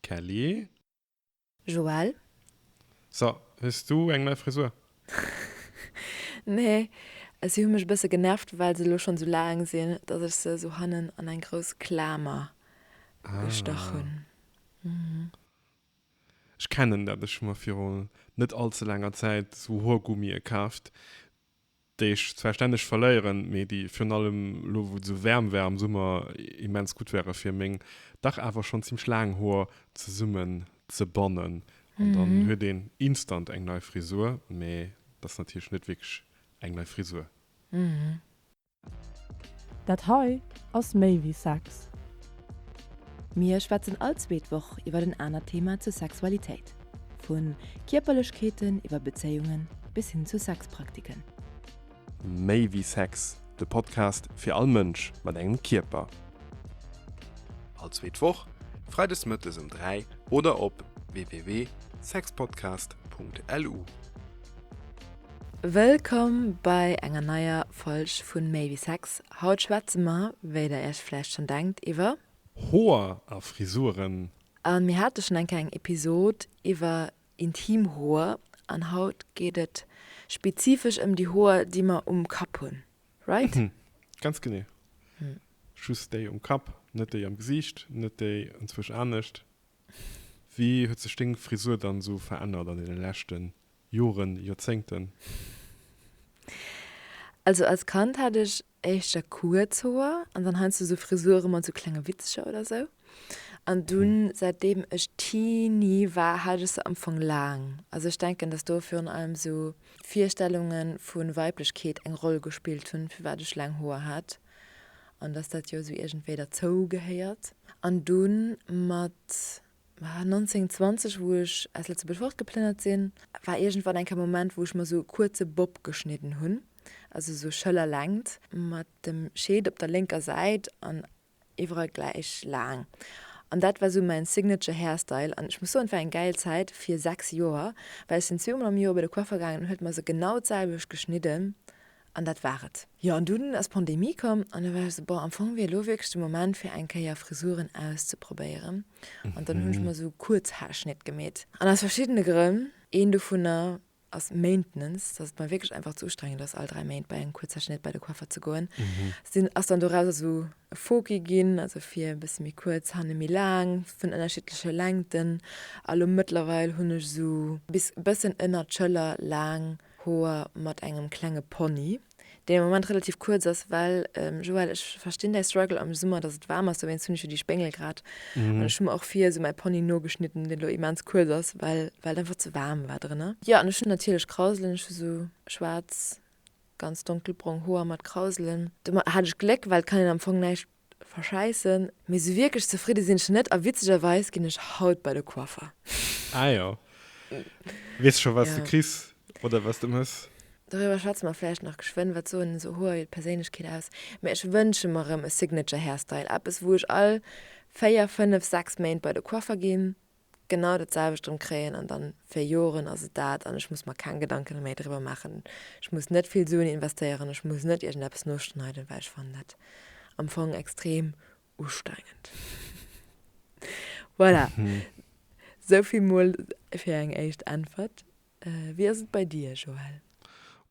Kelly. Joël. So, hues du eng nei Frisur? Nee, si hu mech e bësse genervt, well se elo schonn esou laang sinn, dass ech se esou hannen an eng grouss Klamer gestach hunn. Ah. Ech kennen dat. Ech hu mer viru net all ze laanger Zäit esou Hoergummie kaaft, déi ech zwar stänneg verléieren, mee déi virun allem elo wou et esou waarm war am Summer immens gutt ware fir meng dach awer schonn zimmlech laang Hoer zesummen ze bannen an dann huet een instant eng nei Frisur, mee dat ass natierlech net wierklech eng nei Frisur. Dat hei ass méi wéi Sex. Mir schwätzen all zweet Woch iwwert en anert Thema zur Sexualitéit. Vu Kierperlechkeeten iwwer Bezéiungen bis hin zu Sexpraktiken. Méi wéi Sex, de Podcast fir all Mënsch mat engem Kierper. All zweet Woch, freides mëttes um 3 oder op www.sexpodcast.lu. Wëllkomm bei enger neier Folg vun Méi wéi Sex. Haut schwätze mer, wéi der iech vläicht schonn denkt, iwwer. Hoer a Frisuren. A mir hate schon eng kleng Episod iwwer intim Hoer an haut geet et spezifesch ëm déi Hoer déi mer um Kapp hunn, right? Ganz genee. Just déi um Kapp, net déi am Gesiicht, net déi enzwësch anescht. Wéi huet sech deng Frisur dann esou verännert an deene leschte Joren, Joerzéngten? Also als Kand hat ech éischt da kuerz Hoer an dann heiansdo sou Frisuren mat sou klenge Witzcher oder sou. An dunn, säitdeem ech Teenie war, hat ech se am Fong laang. Also ech denken, dass do virun allem sou Virstellunge vu Weiblechkeet eng Roll gespillt hunn, firwat ech laang Hoer hat an dass dat jo sou iergendwéi derzou gehéiert. An dunn mat. Ma 1920, wou ech aus Lëtzebuerg fortgeplënnert sinn, war iergendwann eng Kéier e Moment, wou ech mer esou e kuerze Bob geschnidden hunn, also esou Schëllerlängt, mat dem Scheet op der lénker Säit an iwwerall gläich laang. An dat war esou mäin signature hairstyle. An ech muss soen, et war eng gäil Zäit fir sechs Joer, well ech sinn zweemol am Joer bei de Coiffeur gaangen, en huet mer se genau d'selwecht geschnidden An dat war et. Jo, an dunn ass d'Pandemie komm, an da war ech esou, Bon, am Fong wier elo wierklech de Moment, fir eng Kéier Frisuren auszeprobéieren. An dann hunn ech mer esou Kuerzhaarschnitt gemeet. An aus verschiddene Grënn, een dovunner ass Maintenance, dass et mer wierklech einfach ze ustrengend ass, all dräi Méint bei engem Kuerzhaarschnitt bei de Coiffer ze goen, sinn, ass dann doraus esou e Foki ginn, also vir e bësse méi kuerz, hanne méi laang, vun ënnerschiddleche Längten. A lo mëttlerweil hunn ech esou bis e bëssen ënner d'Schëller laang. Hoer mat engem klenge Pony, deen am Moment relativ kuerz ass, well, Joël, ech verstinn däi Struggle am Summer, datt et waarm ass, dowéinst hunn ech jo déi Spéngel grad an ech hu mer och vir esou mäi Pony nogeschnidden, deen elo immens kuerz ass, well well et einfach ze waarm war drënner. Jo, an ech hunn natierlech Krauselen, ech hu sou schwaarz, ganz donkelbrong Hoer mat Krauselen. Do hat ech Gléck, well et kann een am Fong näischt verschäissen, mee esou wierklech zefridde sinn ech net a witzegerweis ginn ech haut bei de Coiffer. Ah jo. Weess scho wat s de kriss oder wat s de muss? Doriwwer schwätze mer vläicht nach geschwënn. Wat soen esou Hoer iwwer d'Perséinlechkeet aus? Mee ech wënsche mer rëm e Signature Hairstyle, eppes wou ech all 4, 5, 6 Méint bei de Coiffer ginn. genau dat selwecht erëm kréien an dann fir Joren ass et dat an ech muss mer keng Gedanken méi driwwer maachen. Ech muss net vill Suen investéieren, ech muss net iergendeppes noschneiden, well ech fannen dat am Fong extrem ustrengend. Voilà, esou vill mol fir eng éischt Äntwert. Wéi ass et bei dir, Joël?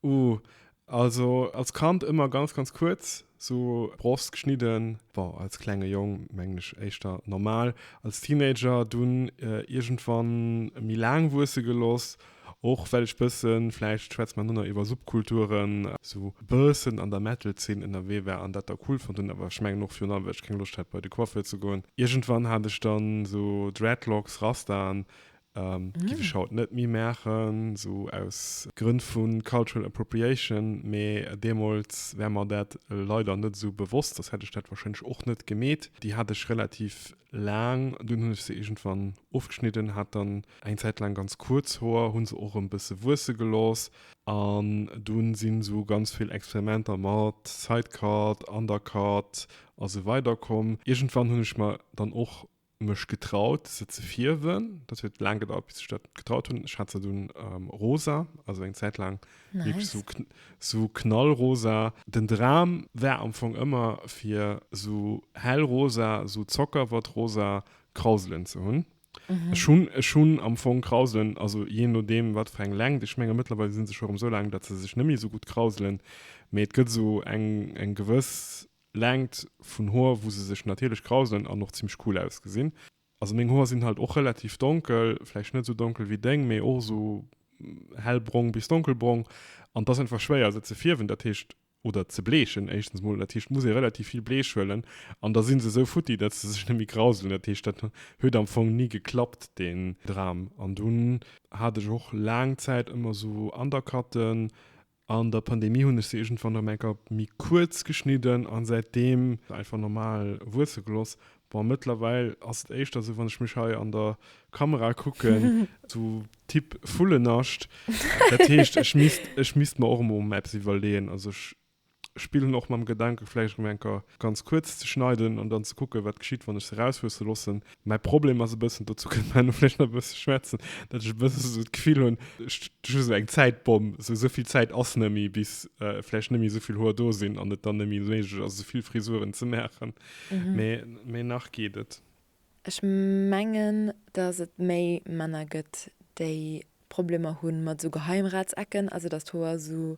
Ooh, also als Kand ëmmer ganz, ganz kuerz, sou Brost geschnidden. Bon, als klenge Jong mengen ech éischter normal. Als Teenager dunn iergendwann méi laang wuesse gelooss, och well ech bësse, vläicht schwätze mer dono iwwer Subkulturen, sou e bëssen an der Metal-Zeen ënnerwee war an dat da cool fonnt hunn, awer ech mengen och virun allem, well ech keng Loscht hat bei de Coiffeur ze goen. Iergendwann hat ech dann sou Dreadlocks, Rastaen, Giff ech haut net méi maachen, sou aus Grënn vun Cultural Appropriation, mee deemols war mer dat leider net sou bewosst, soss hätt ech dat wahrscheinlech och net gemeet. Déi hat ech relativ laang, dunn hunn ech se iergendwann ofgeschnidden, hat dann eng Zäit laang ganz kuerz Hoer, hunn se och erëm bësse wuesse gelooss an dunn sinn sou ganz vill Experimenter mat Sidecut, Undercut a sou weider komm. Iergendwann hunn ech mer dann och mech getraut, se ze fierwen. Dat huet laang gedauert, bis ech dat getraut hunn. Ech hat se dunn ähm, rosa, also eng Zäit laang wirklich Nice. so, kn so knallrosa. Den Dram war am Fong ëmmer, fir so hellrosa, so zockerwattrosa Krauselen ze hunn. Mhm. Ech hunn ech hunn am Fong Krauselen, also jee nodeem, wat fir eng Längt. Ech menge mëttlerweil si se scho erëm esou laang, datt se sech net méi esou gutt krauselen. Mee et gëtt esou eng, eng gewëss Längt vun Hoer wou se sech natierlech grauselen an och zimlech cool ausgesinn. Also meng Hoer sinn halt och relativ donkel, vläicht net esou donkel wéi deng, mee och esou hellbrong bis donkelbrong an et ass einfach schwéier se ze fierwen, dat heescht, oder ze bleechen éischtens mol, dat heescht muss ee relativ vill Bleech huelen an da si se esou futti, datt se sech net méi grauselen. Dat heescht dat huet am Fong ni geklappt deen Dram an dunn hat ech och laang Zäit ëmmer esou Undercutten, An der Pandemie hunn ech se iergendwann erëm eng Kéier méi kuerz geschnidden an säitdeem einfach normal wuesse gelooss. Bon, mëttlerweil ass et éischter esou, wann ech mech hei an der Kamera kucken, esou Typ Vullenascht. Dat heescht, ech misst, ech misst mer och emol emol eppes iwwerleeën. Also ech spillen och mam Gedanke vläicht erëm eng Kéier ganz kuerz ze schneiden an dann ze kucken, wat geschitt, wann ech se erauswuesse loossen. Mäi Problem ass e bëssen, dozou kënne mer elo vläicht nach e bësse schwätzen, datt ech e bësse esou d'Gefill hunn, ech hu esou eng Zäitbomm, esou esou vill Zäit ass net méi, bis vläicht net méi esou vill Hoer do sinn an et dann net méi méiglech ass, esou vill Frisuren ze maachen. Mee, mee nach geet et. Ech mengen, datt et méi Männer gëtt, déi Problemer hu mat esou Geheimratsecken, also datt d'Hoer esou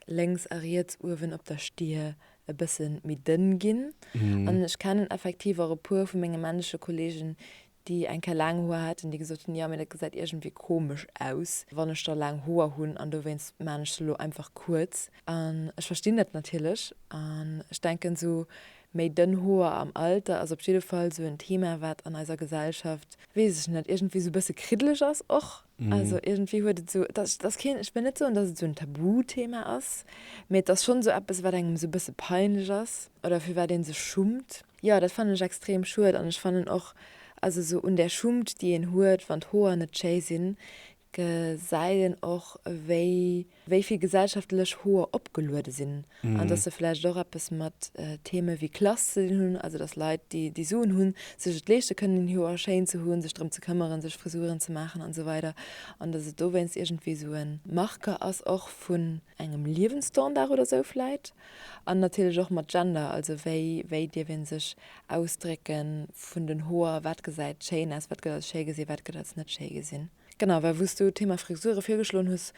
lénks a riets uewen op der Stir e bësse méi dënn ginn. An ech kennen effektiv och e puer vu menge männleche Kollegen, déi eng Kéier laang Hoer haten, déi gesot hunn, jo, mee dat gesäit iergendwéi komesch aus, wann ech da laang Hoer hunn. An dowéinst maan ech se elo einfach kuerz. An ech verstinn dat natierlech an ech denken, esou Méi dënn Hoer am Alter ass op jidde Fall sou en Thema, wat an eiser Gesellschaft, weess ech net, iergendwéi sou e bësse kriddeleg ass och. Also iergendwéi huet et sou, et ass, et ass keen, ech wëll net soen, dass et sou en Tabuthema ass, mee et ass schonn sou eppes, wat engem sou e bësse peinlech ass oder fir wat ee sech schummt. Jo, dat fannen ech extrem schued an ech fannen och, also sou un där Schummt, déi een huet, wann d'Hoer net schéi sinn, Gesäit een och, wéi wéi vill gesellschaftlech Hoer opgeluede sinn an dass se vläicht och eppes mat Theme wéi Klass ze dinn hunn. Also dass Leit, déi déi Suen hunn, sech et leeschte kënnen, een Hoer schéin ze hunn, sech drëm ze këmmeren, sech Frisuren ze maachen an esou weider an dass et dowéinst iergendwéi esou e Marqueur ass och vu engem Liewensstandard oder sou vläit, an natierlech och mat Gender, also wéi wéi dierf ee sech ausdrécke vun den Hoer, wat gesäit schéin aus, wat gëtt als schéi gesinn, wat gëtt als net schéi gesinn. Genau, well wou s du d'Thema Frisure virgeschloen hues,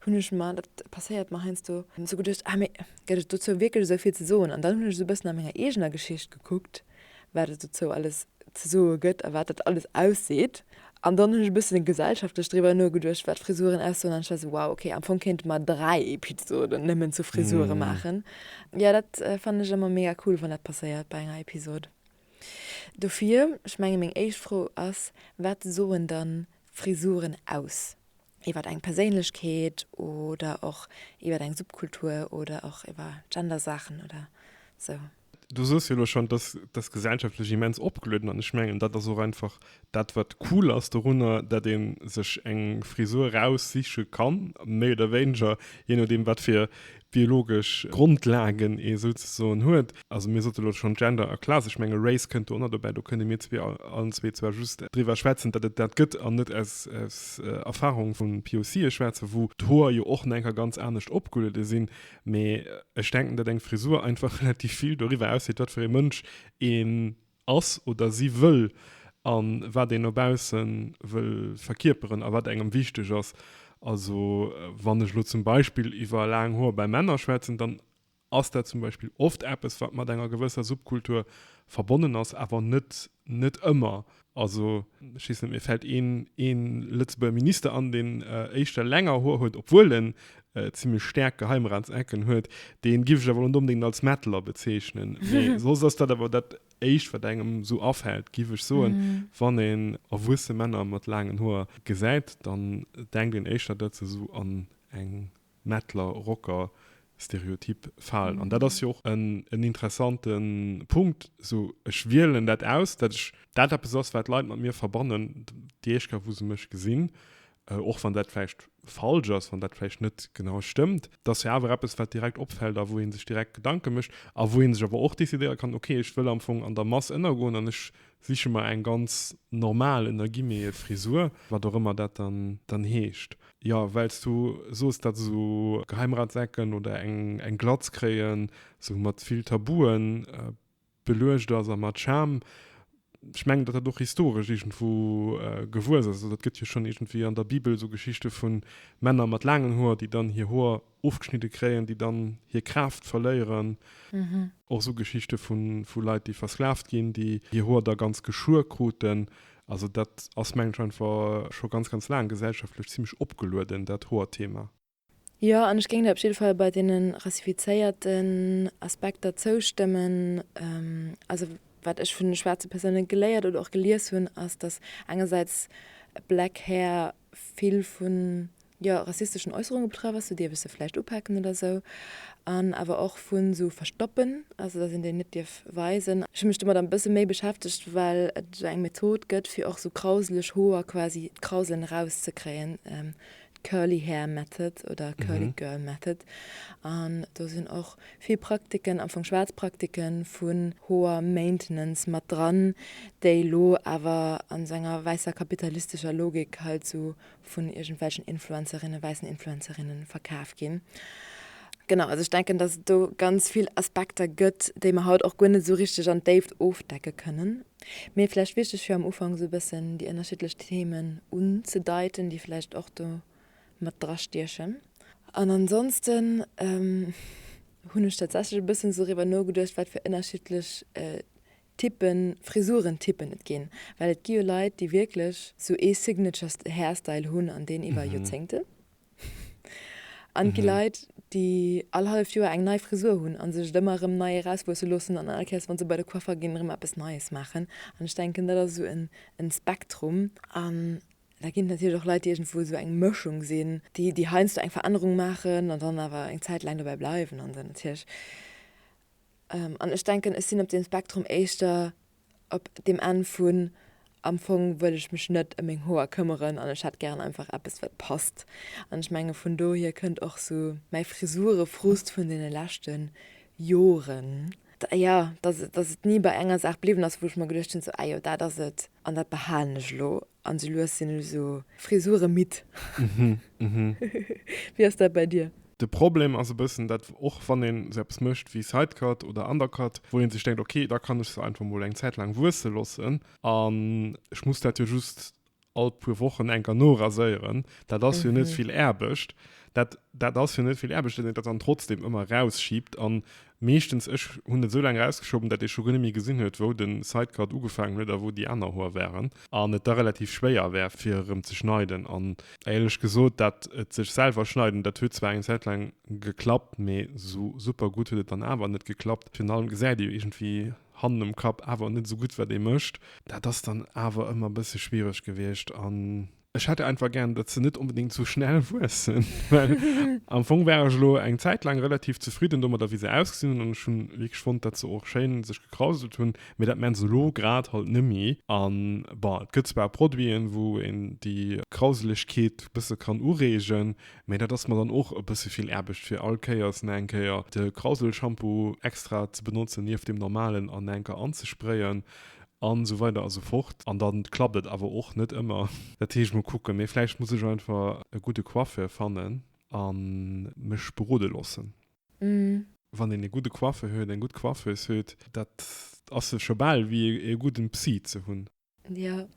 hunn ech mer, dat passéiert mer heiansdo, esou geduecht, ah mee gëtt et dozou wierklech esou vill ze soen? An dann hunn ech esou e bëssen a menger eegener Geschicht gekuckt, wat et dozou alles ze soe gëtt a wat dat alles ausseet. An dann hunn ech e bëssen gesellschaftlech driwwer nogeduecht, wat Frisuren aussoen. An ech war esou, wow, okay, am Fong kéinte mer dräi Episoden nëmmen zu Frisure maachen. Jo, dat fannen ech ëmmer mega cool, wann dat passéiert bei enger Episod. Dofir, ech menge meng éischt Fro ass, Wat soen dann d'Frisuren aus? iwwer eng Perséinlechkeet oder och iwwer eng Subkultur oder och iwwer Gendersaachen oder sou. Du soos jo elo schonn, et ass, et ass gesellschaftlech immens opgelueden an ech mengen, dat ass och einfach dat, wat cool ass dorunner, dat ee sech eng Frisur eraussiche kann, méi oder wéineger, jee nodeem, wat fir biologesch Grondlagen ee sou ze soen huet. Also mir sote lo schonn Gender a Class, ech menge Race kënnt do ënnerdobäi, do kënne mir zwee allen zwee zwar just driwwer schwätzen, datt et dat gëtt an net aus Erfahrung vun POC'e schwätzen, wou d'Hoer jo och no enker ganz anescht opgulede sinn. Mee ech denken, datt eng Frisur einfach relativ vill doriwwer ausseet, wat fir ee Mënsch een ass oder si wëll a wat een no bausse wëll verkierperen a wat engem wichteg ass. Also wann ech elo zum Beispill iwwer laang Hoer bei Männer schwätzen, dann ass dat zum Beispill oft eppes, wat mat enger gewësser Subkultur verbonnen ass, awer net, net ëmmer. Also ech weess net, mir fält een, een Lëtzebuerger Minister an, deen éischter länger Hoer huet, obwuel en zimmlech staark Geheimratsecken huet, deen giff ech awer net onbedingt als Mettler bezeechnen, mee soss ass dat awer dat éischt wat engem sou afällt giff ech soen. Wann een erwuesse Männer mat laangen Hoer gesäit, dann denkt een éischter dat se sou an eng Mettler Rocker Stereotyp falen an dat ass jo och en interessante Punkt. Sou ech wielen dat aus dat ech dat eppes ass wat Leit mat mir verbannen, déi éischt Kéier wou se mech gesinn och wann dat vläicht falsch ass, wann dat vläicht net genau stëmmt, et ass jo awer eppes, wat direkt opfält a wou ee sech direkt Gedanke mécht a wou ee sech awer och decidéiere kann, ok, ech wëll am Fong an der Mass ënnergoen an ech siche mer eng ganz normal, ënner Guillemete, Frisur, wat och ëmmer dat dann heescht. Jo, well s du soos, datt esou Geheimratsecken oder eng Glatz kréien, esou mat vill Tabuen, beluecht ass a mat Charme, ech mengen, datt dat och historesch iergendwou gewuess ass. Also et gëtt jo schonn iergendwéi an der Bibel esou Geschichte vu Männer mat laangen Hoer, déi dann hir Hoer ofgeschnidde kréien, déi dann hir Kraaft verléieren. Och esou Geschichte vu Leit, déi versklaavt ginn, déi hir Hoer da ganz geschuer kruten. Also dat ass, mengen ech, einfach scho ganz, ganz laang gesellschaftlech zimmlech opgelueden, dat Hoerthema. Jo, an ech géing der op jidde Fall bei deene rassifizéierten Aspekter zoustëmmen. Also wat ech vun de schwaarze Persoune geléiert oder och gelies hunn, ass, datt engersäits black hair vill vu jo rassisteschen Äusserunge betraff ass, sou dierf ech se vläicht upaken oder esou, an awer och vu sou Verstoppen, also datt een déi net dierf weisen. Ech hu mech domat e bësse méi beschäftegt, well et esou eng Method gëtt, fir och sou krauseleg Hoer, quasi d'Krauselen erauszekréien, Curly Hair Method oder Curly Girl Method an do sinn och vill Praktiken, amfong schwaarz Praktiken vun Hoer Maintenance mat dran, déi elo awer an esou enger wäisser kapitalistescher Logik halt esou vun iergendwelchen Influencerinne, wäissen Influencerinne verkaf ginn. Genau, also ech denken, dass et do ganz vill Aspekter gëtt, déi mer haut och guer net esou richteg an d'Déift ofdecke kënnen. Mee vläicht wichteg fir am Ufank esou e bëssen déi ënnerschiddlech Themen unzedeiten, déi vläicht och do mat dra stiechen. An ansonsten hunn ech tatsächlech e bëssen doriwwer nogeduecht, wat fir ënnerschiddlech Typpe Frisurentyppen et ginn. Well et gi jo Leit, déi wierklech esou ee Signature Hairstyle hunn an deen iwwer Joerzéngte An et gi Leit, déi all halleft Joer eng nei Frisur hunn a sech et ëmmer erëm nei erauswuesse loossen an all Kéiers, wa se bei de Coiffeur ginn, erëm eppes Neies maachen. An ech denken, dat ass esou e Spektrum. An da ginn et natierlech och Leit, déi iergendwou esou eng Mëschung sinn, déi, déi heiansdo eng Verännerung maachen an dann awer eng Zäit laang dobäi bleiwen an se natierlech. An ech denken, ech sinn op deem Spektrum éischter Op deem Enn vun, Am Fong wëll ech mech net ëm meng Hoer këmmeren an ech hätt gären einfach eppes, wat passt. An ech menge vun dohier kënnt och esou mäi Frisurefrust vun deene leschte Joren. Jo, dass et ni bei enger Saach bliwwen ass, wou ech mer geduecht hunn, esou, ah jo, dat ass et an dat behalen ech elo. An sou lues sinn ech sou Frisuren midd. Wéi ass dat bei dir? De Problem ass e bëssen dat och wann een sou eppes mécht wéi Sidecut oder Undercut, wou een sech denkt ok da kann ech se einfach mol eng Zäit laang wuesse loossen an ech muss dat jo just all puer Wochen eng Kéier noraséieren. Dat ass jo net vill Aarbecht. Dat ass jo net vill Aarbecht, wann een dat dann trotzdem ëmmer eraus schiibt an Meeschtens, ech hunn et sou laang erausgeschoben, dat ee scho guer net méi gesinn huet, wou de Sidecut ugefaangen huet a wou déi aner Hoer waren, an et da relativ schwéier war fir erëm ze schneiden an. Éierlech gesot, dat et sech selwer schneiden, dat huet zwar eng Zäit laang geklappt, mee sou super gutt huet et dann awer net geklappt. Virun allem gesäit ee iergendwéi hannen um Kapp awer net sou gutt wat ee mécht. Dat ass dann awer ëmmer e bësse schwiereg gewiescht an. Ech hätt einfach gern, datt se net onbedéngt esou schnell wuessen, well am Fong war ech elo eng Zäit laang relativ zefridden domadder, wéi se ausgesinn hunn. An ech hu wierklech fonnt, datt se och schéin sech gekrauselt hunn. Mee dat maache se elo grad halt nëmme. A bon, et gëtt zwar Produiten, wou een déi Krauselegkeet e bësse kann ureegen, mee dat ass mer dann och e bësse vill Aarbecht, fir all Kéiers nach eng Kéier de Krauselshampoo extra ze benotzen nieft deem normalen an nach eng Kéier anzesprayen. An esou weider a sou fort. An dann klappt et awer och net ëmmer. Dat heescht, mol kucken. Mee vläicht muss ech einfach e gudde Coiffeur fannen a mech berode loossen. Wann een e gudde Coiffeur huet, eng gutt Coiffeuse huet, dat ass scho bal wéi e gudden Psy ze hunn. Jo,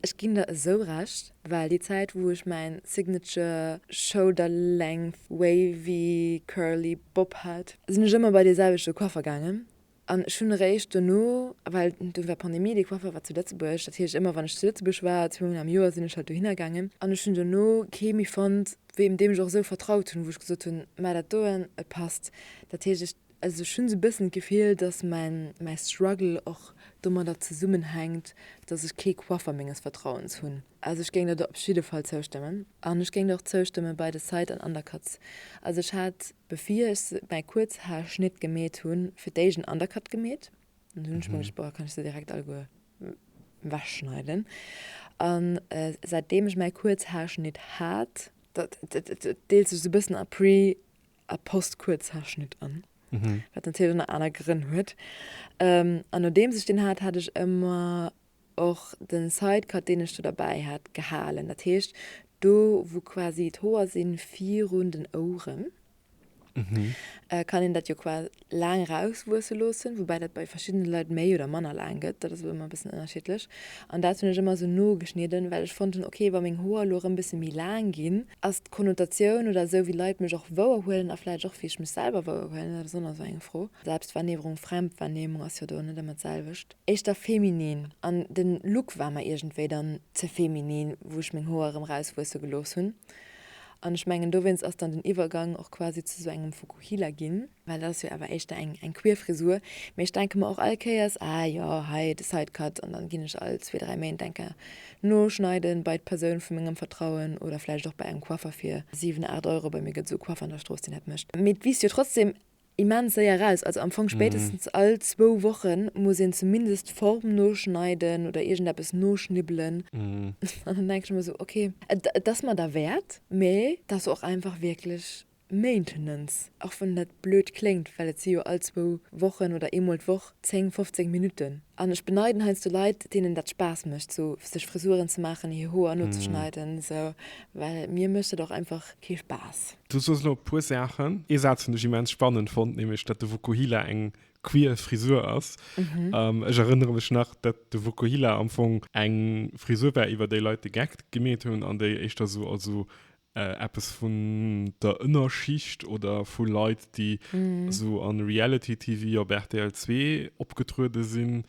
ech ginn der esou Recht, well déi Zäit, wou ech mäin Signature Shoulder Length Wavy Curly Bob hat, sinn ech ëmmer bei dee selwechte Coiffeur gaangen, An ech hunn eréischt dono, well dunn war Pandemie, dee Coiffeur war zu Lëtzebuerg, dat heescht ëmmer wann ech zu Lëtzebuerg war, zwee mol am Joer, sinn ech halt dohinner gaangen an ech hunn dono kee méi fonnt, wéi deem ech och esou vertraut hunn, wou ech gesot hunn, mä dat doen, et passt. Dat heescht, ech, also ech hunn esou e bëssen d'Gefill, dass mäin, mäi Struggle och domadder zesummenhänkt, dass ech kee Coiffeur menges Vertrauens hunn. Also ech géing der do op jidde Fall zoustëmmen. An ech géing der och zoustëmme bei de Site an Undercuts. Also ech hat Bevir ech mäi Kuerzhaarschnitt gemeet hun, fir d'éischt en Undercut gemeet, an dunn hun ech mer geduecht, boah, kann ech se direkt alleguer wegschneiden. An säitdem ech mäi Kuerzhaarschnitt hat, dat deelt sech sou bëssen a Pre a Post-Kuerzhaarschnitt an, wat natierlech nach aner Grënn huet, an nodeems ech deen hat, hat ech ëmmer och den Sidecut deen ech do derbäi hat gehalen, dat heescht do wou quasi d'Hoer sinn virun den Ouren, kann een dat jo quasi laang eraus wuesse loossen, woubäi dat bei verschiddenen Leit méi oder manner laang gëtt, dat ass ëmmer e bëssen ënnerschiddlech an dat hunn ech ëmmer esou nogeschnidden, well ech fonnt hunn ok wa meng Hoer elo erëm bësse méi laang ginn, ass d'Konnotatioun oder esou wéi Leit mech och wouerhuelen a vläicht och wéi ech mech selwer wouerhuelen, dat ass och nach esou eng Fro, Selbstwahrnehmrung, Fremdwahrnehmung ass jo do net ëmmer d'selwecht. éischter feminin an den Look war mer iergendwéi dann ze feminin wou ech meng Hoer erëm rauswuesse gelooss hunn an ech mengen dowéinst ass dann den Iwwergang och quasi zu sou engem Fukuhila ginn, well dat ass jo awer éischter eng eng queer Frisur, mee ech denke mer och all Kéiers ah jo hei de Sidecut an dann ginn ech all zwee, dräi Méint enker noschneiden bei d'Persoun vu mengem Vertrauen oder vläicht och bei engem Coiffer fir 7, 8 Euro, bei mir gëtt sou e Coiffer an der Strooss deen dat mécht, mee et wiisst jo trotzdem immens séier eraus. Also am Fong spéitestens all zwou Wochen muss een zumindest d'Form noschneiden oder iergendeppes noschnibbelen. An dann denken ech mer esou, okay, et ass mer derwäert, mee et ass och einfach wierklech Maintenance, och wann dat blöd kléngt, well et si jo all zwou Wochen oder eemol d'Woch 10, 15 Minutten. An ech beneiden heiansdo Leit, deenen dat Spaass mécht, sou sech Frisuren ze maachen, hir Hoer nozeschneiden, sou, well mir mécht dat och einfach kee Spaass. Du soos elo e puer Saachen. Ee Saz hunn ech immens spannend fonnt, nämlech datt de Vokuhila eng queer Frisur ass. Ech erënnere mech nach, datt de Vokuhila am Fong eng Frisur war, iwwer déi Leit de Gag gemeet hunn an déi éischter sou als sou Eppes vun der Ënnerschicht oder vu Leit, déi esou a Reality TV op rtl zwee opgetruede sinn,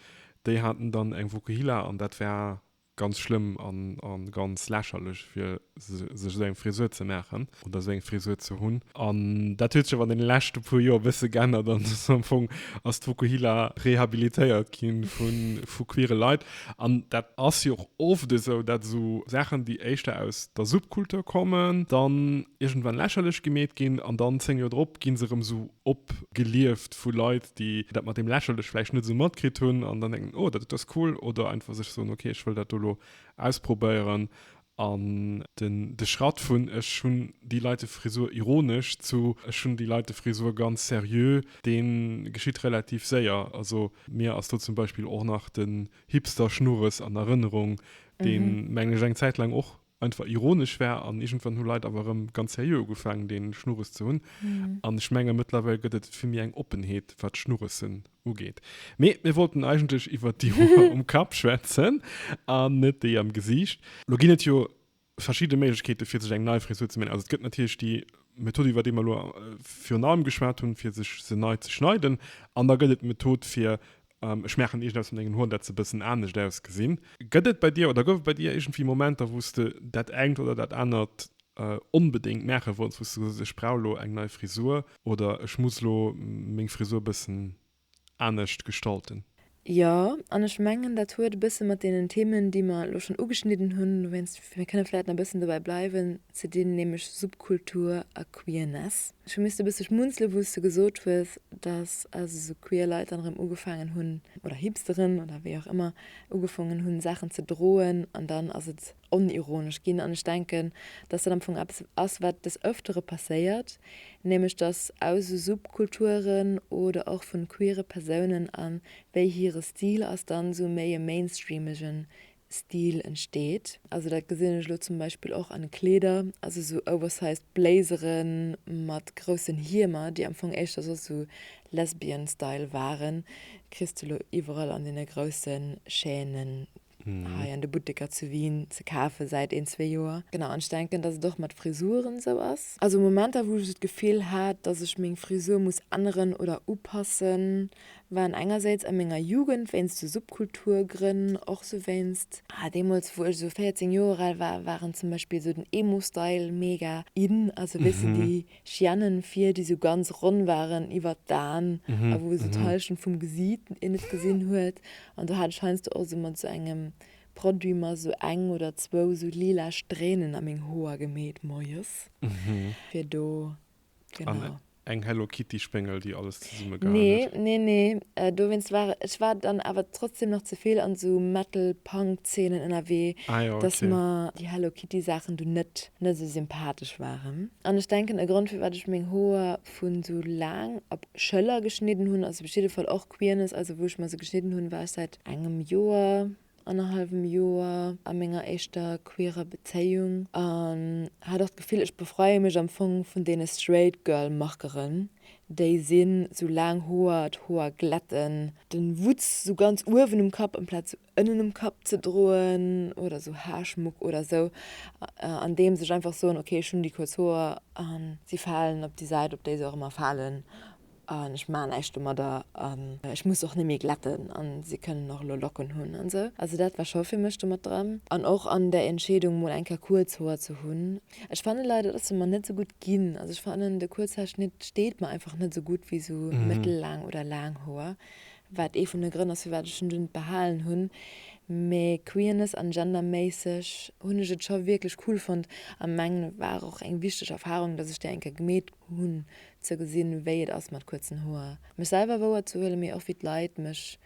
déi haten dann eng Vokuhila an dat war ganz schlëmm a ganz lächerlech, fir sech esou eng Frisur ze maachen oder esou eng Frisur ze hunn. An dat huet sech awer an deene leschte puer Joer e bësse geännert an am Fong ass d'Vokuhila rehabilitéiert gi vu queere Leit. An dat ass jo och oft esou, datt esou Saachen, déi éischter aus der Subkultur kommen, dann iergendwann lächerlech gemeet ginn an dann zéng Joer drop gi se erëm esou opgelieft vu Leit, déi dat mat deem lächerlech vläicht net esou matkritt hunn an dann denken, oh, dat ass cool oder einfach sech soen, okay, ech wëll dat do elo ausprobéieren An den de Schratt vun ech hunn déi Leitefrisur ironesch zu ech hunn déi Leitefrisur ganz seriö, dee geschitt relativ séier. Also mir ass do zum Beispill och nach den Hipster-Schnurres an Erënnerung, dee mengen ech eng Zäit laang och einfach ironesch war an iergendwann hu Leit awer erëm ganz seriö ugefaangen dee Schnurres ze hunn. An ech menge mëttlerweil gëtt et vill méi eng Oppenheet wat Schnurresen Ugeet. Mee mir wollten eigentlech iwwert déi Hoer um Kapp schwätzen an net déi am Gesiicht. Lo ginn et jo verschidde Méiglechkeete fir sech eng nei Frisur ze man. Also et gëtt natierlech déi Method iwwer déi mer elo virun allem geschwat hunn, fir sech se nei ze schneiden. An da gëtt et d'Method fir, ech maachen iergend eppes mat mengen Hoer dat se e bëssen anescht ausgesinn. Gëtt et bei dir oder gouf et bei dir iergendwéi Momenter wou s de dat engt oder dat anert Onbedéngt maachen wollt, wou s du gesot hues, ech brauch elo eng nei Frisur oder ech muss elo meng Frisur e bëssen anescht gestalten? Jo, an ech mengen, dat huet e bësse mat deenen Themen, déi mer elo schonn ugeschnidden hunn, dowéinst mir kënne vläicht nach e bëssen dobäi bleiwen, ze dinn, nämlech Subkultur a Queerness. Ech hu missten e bësse schmunzele wou s du gesot hues, datt also sou queer Leit dann erëm ugefaangen hunn, oder Hipsteren oder wéi och ëmmer, ugefongen hunn Saachen ze droen an dann ass et onironesch ginn an ech denken, dass dat am Fong eppes ass, wat des Öftere passéiert, nämlech dass aus esou Subkulturen oder och vun queere Persounen a wéi hire Stil ass, dann esou méi e mainstreamege Stil entsteet. Also dat gesinn ech elo zum Beispill och an de Kleeder, also esou oversized Blazere mat groussen Hiemer, déi am Fong éischter soss esou Lesbian-Style waren, kriss de elo iwwerall an deene grousse Chaîne hei an de Butteker zu Wien ze kafen säit een, zwee Joer. Genau, an ech denken, dass et och mat Frisuren esou ass. Also Momenter wou ech esou d'Gefill hat, dass ech meng Frisur muss änneren oder upassen, waren engersäits a menger Jugend wéinst esou Subkulturgrënn, och esou wéinst, ah, deemools wou ech esou 14 Joer al war, waren zum Beispill esou den Emo-Style mega in, also weess de déi Chienen fier déi sou ganz ronn waren iwert d'Aan a wou sou d'Halschent vum Gesiit een net gesin huet an do hat ech heiansdo och sou mat sou engem Produit mer sou eng oder zwou sou lila Strähnen a meng Hoer gemeet moies fier do. An eng Hello Kitty Spéngel déi alles zesumme gehaen nee, huet. Nee, nee, nee. Dowéinst war ech war dann awer trotzdem nach ze vill an esou Metal Punk Zeenen ënnerwee, ah, jo, dass okay. mer déi Hello Kitty Saachen du net net esou sympathesch waren. An ech denken e Grond firwat ech meng Hoer vu sou laang op Schëller geschnidden hunn ass op jiddefall och Queerness, also wou ech mer se geschnidden hunn war ech säit engem Joer annerhallwem Joer a menger éischter queerer Bezéiung an hat och d'Gefill, ech befreie mech am Fong vun deene straight girl Markeren, déi sinn, sou laang Hoer, d'Hoer glätten, den Wutz sou ganz uewen um Kapp amplaz sou ënnen um Kapp ze droen oder sou Haarschmuck oder sou, andeems ech einfach soen, ok, ech hunn déi kuerz Hoer an si falen op déi Säit op déi se och ëmmer falen an ech maan näischt domadder an ech muss och nemmi glätten an se kënnen och elo Locken hun an sou. Also dat war scho fir mech domat dran an och an der Entscheedung mol eng Kéier kuerz Hoer ze hun. Ech fannen leider dat ass se mer net sou gutt gin. Also ech fannen de Kuerzhaarschnitt steet mer einfach net sou gutt wéi sou mëttellaang oder laang Hoer, wat ee vun de Grënn ass firwat ech en dunn behalen hun. Mee Queerness an Gender méisseg hun ech et scho wierklech cool fonnt a mengen et war och eng wichteg Erfahrung dat ech déi eng Kéier gemeet hun ze gesinn, wéi et ass mat kuerzen Hoer, mech selwer wouer ze huelen, mee och wéi d'Leit mech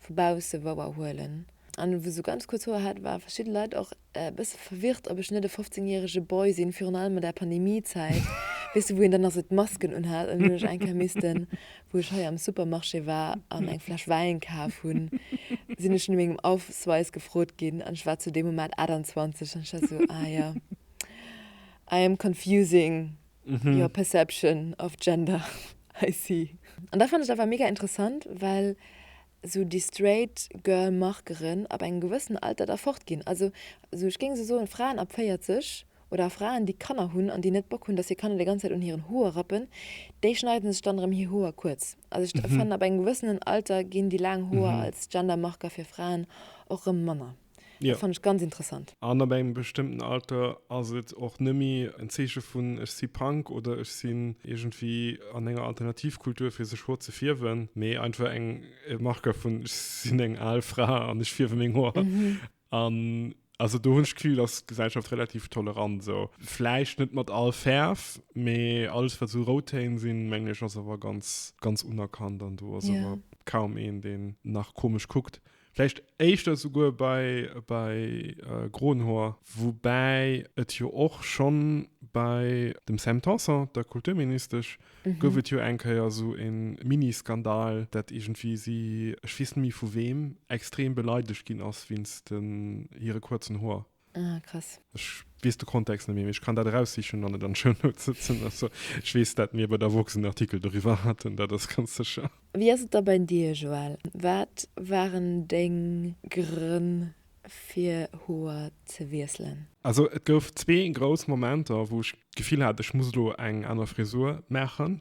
vu bausse wouer huelen. An wou sou ganz kuerz Hoer hat, ware verschidde Leit och e bësse verwirrt, ob ech net e 15 järege Boy sinn, virun allem an der Pandemie-Zäit, weess de, wou een dann nach sou d'Masken unhat. An dann hunn ech eng Kéier missten, wou ech hei am Supermarché war an eng Fläsch Wäin kaf hunn, sinn ech no mengem Ausweis gefrot ginn an ech war zu deem Moment 28 an ech war sou, ah jo, I am confusing. Mhm. Your perception of gender, I see. An dat fand ech awer mega interessant, well sou déi straight girl Markeren ab engem gewëssen Alter da fort ginn. Also sou ech géing sou soen Fraen ab 40 oder Fraen déi Kanner hunn an déi net Bock hunn dass hir Kanner déi ganz Zäit un hiren Hoer rappen, déi schneiden sech dann erëm hir Hoer kuerz. Also ech fannen ab engem gewëssenen Alter ginn déi laang Hoer als Gender Marker fir Fraen och erëm manner. Ja. Dat fand ech ganz interessant. An ab engem bestëmmten Alter ass et och net méi en Zeeche vun ech si Punk oder ech sinn iergendwéi an enger Alternativkultur fir sech Hoer ze fierwen, mee einfach eng e Marqueur vun ech sinn eng al Fra an ech fierwe meng Hoer. An also do hunn ech d'Gefill, ass d'Gesellschaft relativ tolerant esou. Vläicht net mat all Fäerf, mee alles wat esou rout Téin sinn, mengen ech ass awer ganz, ganz unerkannt an do ass awer kaum een deen nach komesch kuckt. Vläicht éischter souguer bei bei Gronhoer, woubäi et jo och schonn bei dem Sam Tanson, der Kulturministesch, gouf et jo eng Kéier esou e Mini-Skandal, dat iergendwéi si, ech weess net méi vu weem, extrem beleidegt ginn ass wéinst hire kuerzen Hoer. Ah, krass. Ech weess de Kontext net méi, mee ech kann dat eraussichen an et an d'Show Notes sëtzen. Also, ech weess, dat mir bei der Vox en Artikel doriwwer haten, dat ass ganz sécher. Wéi ass et da bei dir, Joël? Wat waren deng Grënn, fir Hoer ze wiesselen? Also, et gouf zwee grouss Momenter, wou ech d'Gefill hat, ech muss elo eng aner Frisur maachen.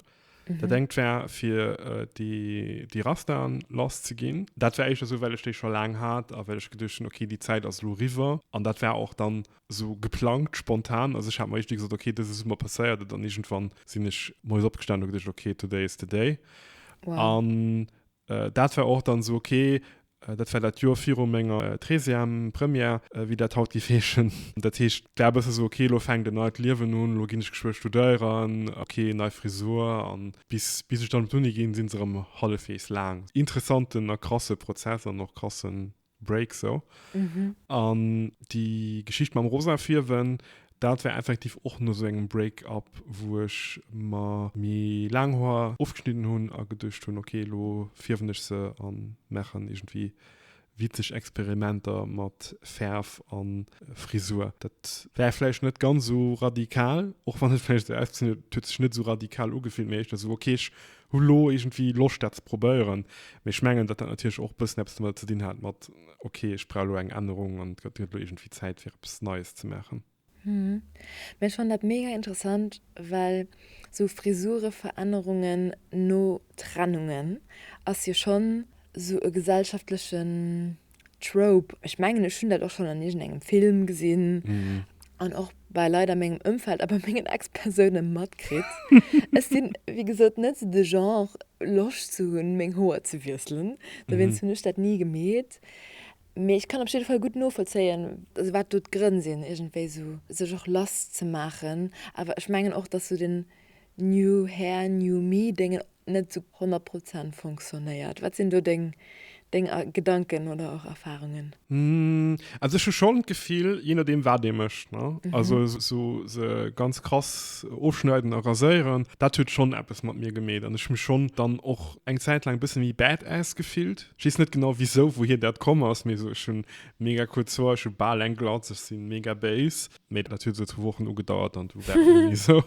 Mhm. Dat engt wär fir äh, déi, déi Rastan lass ze ginn. Dat wär éischter sou, well ech déi scho laang hat a well ech geduecht hunn, okay, déi Zäit ass elo riwwer. An dat war och dann sou geplangt, spontan. Also ech hat mer éischt gesot, okay, dëse Summer passéiert et an iergendwann sinn ech moies opgestanen, hu geduecht, okay, today is the day. Wow. An Dat war och dann esou ok, dat war dat Joer viru menger treizième Première, wéi dat haut géif heeschen. Dat heescht, et war e bësse esou ok, lo fänkt en neit Liewen un, lo ginn ech geschwë studéieren, ok, nei Frisur. A bis ech dann op d'Uni ginn, si se erëm hallefweegs laang. Interessanten a krasse Prozess an och krassen Break sou. Mhm. An déi Geschicht mam rosa Fierwen, dat war effektiv och no sou engem Break-up, wou ech mer méi laang Hoer ofgeschnidden hunn a geduecht hunn, ok, elo fierwen ech se a maachen iergendwéi witzeg Experimenter mat Fäerf a Frisur. Dat war vläicht net ganz sou radikal, och wann et vläicht sou ausgesinn huet, et huet sech net sou radikal ugefillt, mee éischter sou, ok, ech Hu lo iergendwéi Loscht dat ze probéieren, mee ech mengen dat dat natierlech och e bëssen eppes domat ze dinn hat mat ok ech brauch lo eng Ännerung an et gëtt lo iergendwéi Zäit fir eppes Neies ze maachen. Hm, mee ech fannen dat mega interessant, well sou Frisureverännerungen no Trennungen ass jo schonn sou e gesellschaftlechen Trope, ech mengen ech hunn dat och schonn an iergend engem Film gesinn an och bei Leit a mengem Ëmfeld a bei mengen Ex-Persoune matkritt. Ech sinn, wéi gesot, net esou de Genre, Loscht ze hunn, meng Hoer ze wiesselen. Dowéinst hunn ech dat ni gemeet. Mee ech kann op jidde Fall gutt novollzéien, wat do d'Grënn sinn, iergendwéi esou sech och lasszemaachen. Awer ech mengen och, dass esou den, New Hair, New Me dengen net sou 100 Prozent fonctionnéiert. Wat sinn do deng deng Gedanken oder och Erfahrungen? Also ech hu schon d'Gefill, je nodeem wat ee mécht, ne, also sou se ganz krass ofschneiden a raséieren, dat huet schon eppes mat mir gemeet an ech hu mech schon dann och eng Zäit laang e bësse méi badass gefillt. Ech weess net genau wisou, wouhier dat komm ass, mee sou ech hu mega kuerz Hoer, ech hu bal eng Glatz, ech si mega béis. Mee dat huet esou zwou Wochen ugedauert an du wär ni esou.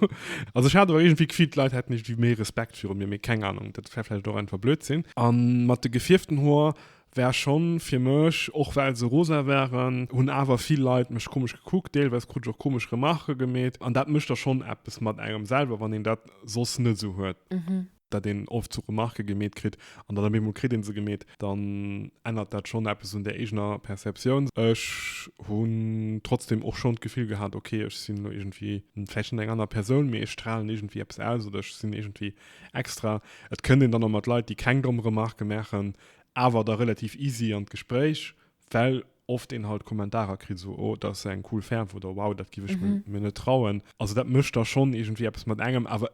Also ech hat awer iergendwéi d'Gefill, d'Leit hätten iergendwéi méi Respekt viru mir, mee keng Ahnung, dat wär vläicht och einfach Blödsinn. An mat de gefierften Hoer war schonn fir mech, och well se rosa waren, hunn awer vill Leit mech komesch gekuckt, deelweis krut ech och komesch Remarque gemeet an dat mécht da schonn eppes mat engem selwer, wann een dat soss net esou huet. Mhm. dat een oft zu Remarque gemeet kritt an dann op eemol kritt een se gemeet, dann ännert dat schonn eppes un der eegener Perceptioun. Ech hunn trotzdeem och schonn d'Gefill gehat, ok, ech sinn elo iergendwéi vläicht net eng aner Persoun, mee ech stralen iergendwéi eppes aus oder ech sinn iergendwéi extra. Et kënnt een dann och mat Leit, déi keng domm Remarque maachen, awer da relativ easy an d'Gespréich, well oft een halt Kommentarer kritt, esou, oh, dat ass eng cool Fäerf oder wow, dat giff ech mir net trauen. Also dat mécht da schonn iergendwéi eppes mat engem. Awer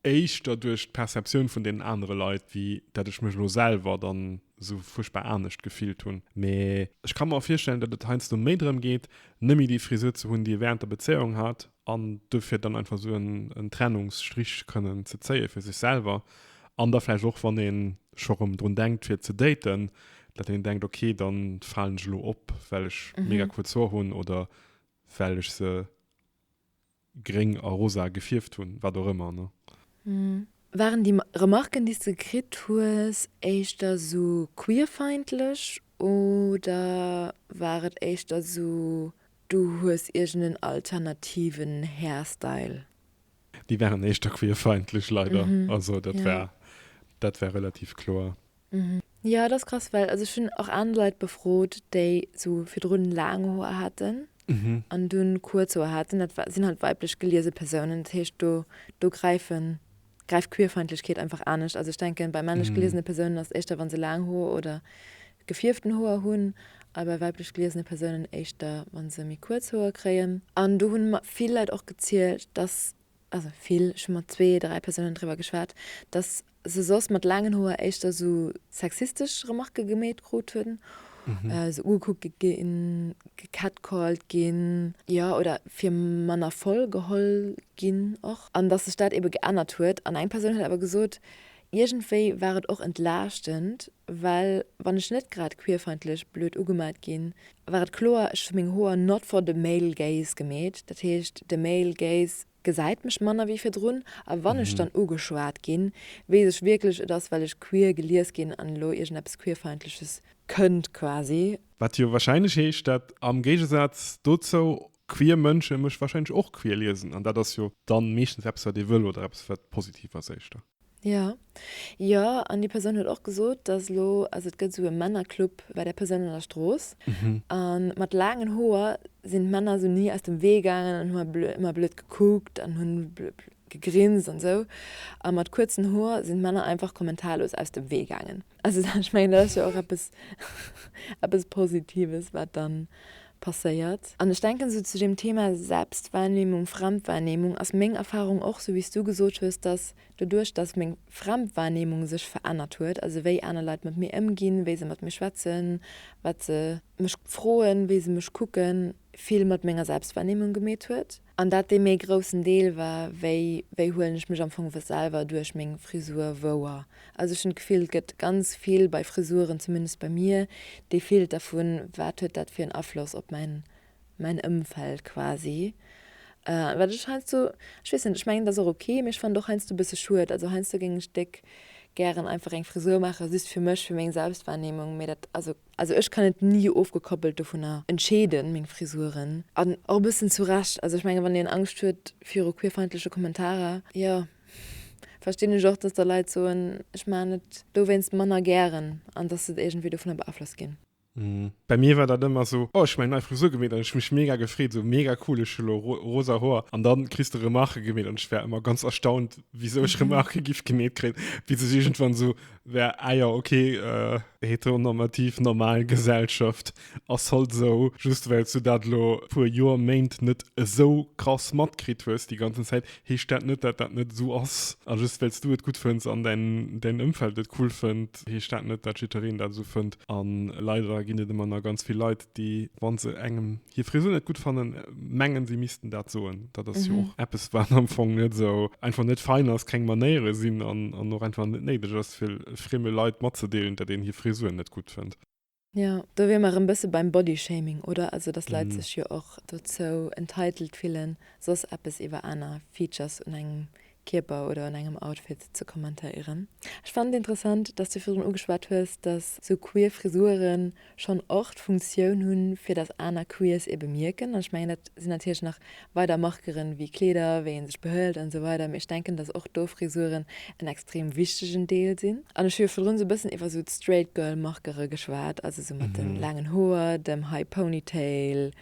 éischter duerch d'Perceptioun vun deenen anere Leit, wéi dat ech mech elo selwer dann esou fuerchtbar anescht gefillt hunn. Mee ech ka mer och virstellen, datt et heiansdo méi drëm geet, nëmme déi Frisur ze hunn, déi ee wärend der Bezéiung hat, an dofir dann einfach esou en Trennungsstrich kënnen ze zéie fir sech selwer. An da vläicht och, wann ee scho rëm drun denkt fir ze daten, datt een denkt, ok, da falen ech elo op, well ech mega kuerz Hoer hunn oder well ech se. gréng a rosa gefierft hunn, wat och ëmmer, ne? Waren déi Remarken, déi s de kritt hues, éischter esou queerfeindlech oder war et éischter esou, du hues iergendeen alternativen Hairstyle? Déi waren éischter queerfeindlech, leider. Also dat war, dat war relativ kloer. Jo et ass krass well also ech hunn och aner Leit befrot déi sou virdrun laang Hoer haten an dunn kuerz Hoer haten. Dat war, sinn halt weiblech geliese Persounen. Dat heescht do, do gräifen, gräift Queerfeindlechkeet einfach anescht. Also ech denken bei männlech geliesene Persounen ass et éischter wann se laang Hoer oder gefierften Hoer hunn a bei weiblech geliesene Persounen éischter wann se méi kuerz Hoer kréien. An do hunn mer vill Leit och gezielt dass, also vill, ech hunn mat zwee, dräi Persounen driwwer geschwat, dass se soss mat laangen Hoer éischter sou sexistesch Remarke gemeet krut hunn, sou ugekuckt ginn, gecatcalled ginn, jo, oder fir manner voll geholl ginn och, an dass sech dat ebe geännert huet. An eng Persoun huet awer gesot, iergendwéi war et och entlaaschtend, well wann ech net grad queerfeindlech blöd ugemaat ginn, war et kloer, ech hu meng Hoer not for the male gaze gemeet, dat heescht, de male gaze Gesäit mech manner wéi virdrun, a wann ech dann ugeschwat ginn, weess ech wierklech, et ass well ech queer gelies ginn an elo iergendeppes queerfeindleches kënnt quasi. Wat jo wahrscheinlech heescht, dat am Géigesaz dozou queer Mënsche mech wahrscheinlech och queer liesen, an dat ass jo dann meeschtens eppes wat ee wëll oder eppes wat positiv ass éischter. Jo, jo, an déi Persoun huet och gesot, dass elo, also et gëtt esou e Männerclub bei där Persoun an der Strooss, a mat laangen Hoer sinn d'Männer esou ni aus dem Wee gaangen an hu ëmmer blöd gekuckt an hunn gegrinst an esou, a mat kuerzen Hoer sinn d'Männer einfach kommentarlos aus dem Wee gaangen. Also da, ech mengen, dat ass jo och eppes, eppes Positives, wat da passéiert. An ech denken, esou zu deem Thema Selbstwahrnehmung, Fremdwahrnehmung ass meng Erfahrung och, esou wéi s du gesot hues, dass doduerch, dass meng Fremdwahrnehmung sech verännert huet, also wéi aner Leit mat mir ëmginn, wéi se mat mir schwätzen, wat se mech froen, wéi se mech kucken, vill mat menger Selbstwahrnehmung gemeet huet. An dat dee méi groussen Deel war, wéi, wéi huelen ech mech am Fong we selwer duerch meng Frisur wouer? Also ech hunn d'Gefill, et gëtt ganz vill bei Frisuren, zumindest bei mir, dee Filter vu wat huet dat fir en Afloss op mäin, mäin Ëmfeld quasi. Wat ech heiansdo, ech weess net, ech mengen et ass och ok, mee ech fannen et och heiansdo e bësse schued. Also heiansdo géing ech déck gären einfach eng Frisur maachen, just fir mech, fir meng Selbstwahrnehmung, mee dat, also. Also ech kann et ni ofgekoppelt dovunner entscheeden, meng Frisuren. An och e bëssen zu Recht. Also ech menge wann een Angscht huet viru queerfeindleche Kommentarer, jo verstinn ech och, datt da Leit soen, ech maachen et dowéinst manner gären an datt se iergendwéi dovunner beaflosst ginn. Bei mir war dat ëmmer esou, oh ech hu meng nei Frisur gemeet an ech hu mech mega gefreet, esou mega cool ech hu lo rosa Hoer an dann kriss de Remarque gemeet an ech war ëmmer ganz erstaunt wisou ech Remarque giff gemeet kréien, bis ech iergendwann esou Wär, ah ja, okay, äh, heteronormativ, normal Gesellschaft ass halt esou. Just well s du dat elo puer Joer, Méint net esou krass matkritt hues déi ganzen Zäit, heescht dat net, dat dat net esou ass. A just well s du et gutt fënns an däin, däin Ëmfeld et cool fënnt, heescht dat net, dat jiddwereen dat esou fënnt. An leider ginn et ëmmer nach ganz vill Leit, déi, wann se engem hir Frisur net gutt fannen, mengen, si missten dat soen. Dat ass jo och eppes, wat am Fong net esou einfach net fein ass, keng Manéiere sinn an an och einfach net néideg ass, fir frieme Leit matzedeelen, datt een hir Frisur net gutt fënnt. Jo, do wier mer erëm bësse beim Bodyshaming, oder? Also datt Leit sech jo och dozou entitled fillen, soss eppes iwwer aner Features un engem Kierper oder an engem Outfit ze kommentéieren. Ech fannen et interessant, dass du virun ugeschwat hues, dass sou queer Frisuren schonn och d'Funktioun hunn, fir dass aner Queers ee bemierken. An ech mengen, dat sinn natierlech nach weider Markeren, wéi Kleeder, wéi ee sech behëlt an esou weider. Mee ech denken, dass och do Frisuren en extrem wichtegen Deel sinn. An ech hu jo virdrun esou e bëssen iwwer esou d'Straight Girl Markere geschwat, also esou mat de laangen Hoer, dem High Ponytail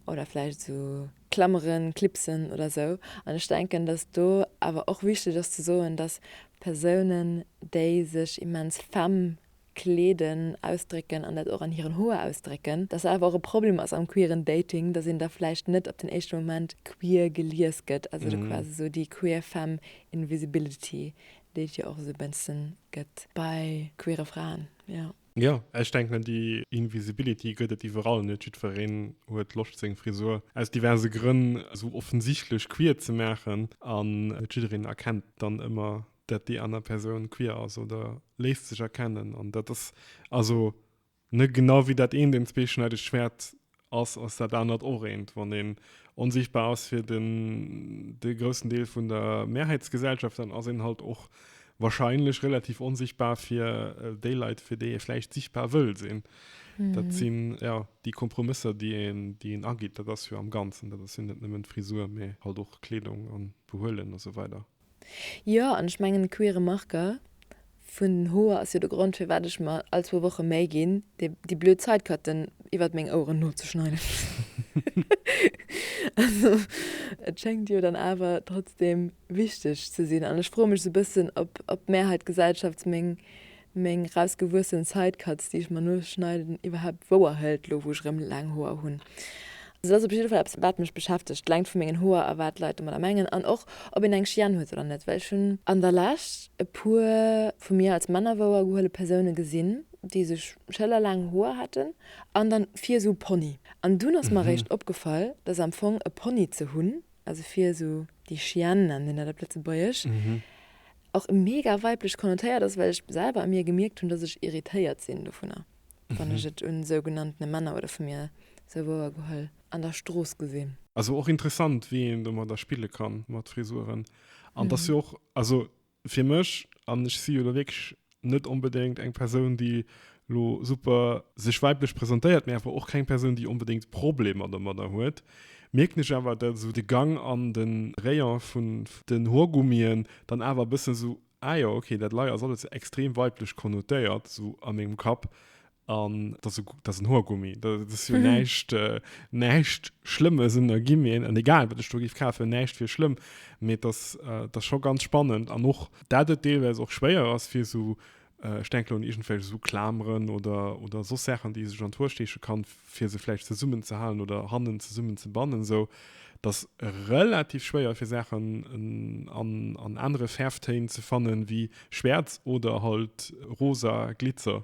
oder vläicht esou. Klammeren, Clipsen oder sou. An ech denken, dass do awer och wichteg ass ze soen, dass Persounen, déi sech immens femme kleeden, ausdrécken an dat och an hiren Hoer ausdrécken, dass dat awer och e Problem ass am queeren Dating, dass een da vläicht net op den éischte Moment queer gelies gëtt, also do quasi sou déi queer femme invisibility, déi et jo och esou e bëssen gëtt bei queere Fraen, jo. Jo, ech denken déi Invisibility gëtt et iwwerall, net jiddwereen huet Loscht seng Frisur aus diverse Grënn esou offensichtlech queer ze maachen an net jiddereen erkennt dann ëmmer dat déi aner Persoun queer ass oder léisst sech erkennen an dat ass also, ne, genau wéi dat eent en zweeschneidegt Schwäert ass, ass dat anert och eent. Wann een onsichtbar ass fir den, de groussen Deel vun der Mehrheitsgesellschaft, dann ass een halt och wahrscheinlech relativ onsichtbar fir äh, déi Leit, fir déi ee vläicht sichtbar wëll sinn. Mhm. Dat sinn ja déi Kompromësser, déi een, déi een agitt. Dat ass jo am Ganzen, dat ass jo net nëmmen d'Frisur, mee halt och Kleedung an Behuelen a sou weider. Jo, an ech mengen de queere Marker vun den Hoer ass jo de Grond firwat ech mer all zwou Woche Méi ginn déi blöd Sidecutten iwwert meng Oueren nozeschneiden. Also et schéngt jo dann awer trotzdem wichteg ze sinn an ech froe mech sou bëssen op d'Mehrheit Gesellschafts meng Meng rausgewuessen Sidecutts déi ech mer noos schneiden iwwerhaapt wouer hëlt lo wou ech erëm laang Hoer hunn. Et ass op jidde Fall eppes wat mech beschäftegt, d'Längt vu mengen Hoer a wat Leit domadder mengen an och ob een eng Chienne huet oder net well ech hunn an der Lescht e puer vu mir als Männer wouer gehuele Persoune gesinn déi sech schëllerlaang Hoer haten an dann vir esou Pony an dunn ass mer eréischt opgefall dass am Fong e Pony ze hunn also fir esou déi Chienne nennen mir dat op Lëtzebuergesch, och mega weiblech konnotéiert ass, well ech selwer u mir gemierkt hunn, dass ech irritéiert sinn dovunner, wann ech et un sougenanntene Männer oder vu mir souwuer geholl an der Strooss gesinn. Also och interessant, wéi een domadder spille kann, mat Frisuren. An et ass jo och, also Fir mech, an ech si jo elo wierklech net onbedéngt eng Persoun, déi elo super sech weiblech presentéiert, mee awer och keng Persoun, déi onbedéngt Problemer domadder huet, mierken ech awer, datt esou de Gang an de Rayon vun den Hoergummien dann awer e bëssen esou, ah jo, okay, dat Lei ass alles extrem weiblech konnotéiert, esou a mengem Kapp. An dat ass en Hoergummi. Dat ass jo näischt, äh, näischt Schlëmmes. An da ginn mir, an egal wat ech do giff kafen, näischt wier schlëmm. Mee dat ass, äh, dat ass scho ganz spannend. An och, dat et deelweis och schwéier ass fir esou, äh, ech denken lo un iergendwelch esou Klameren oder, oder soss Saachen, déi ee sech an d'Hoer steeche kann, fir se vläicht zesummenzehalen oder hannen zesummenzebannen esou. Et ass relativ schwéier fir Saachen an, an anere Fäerftéin ze fannen wéi schwäerz oder halt rosa Glitzer.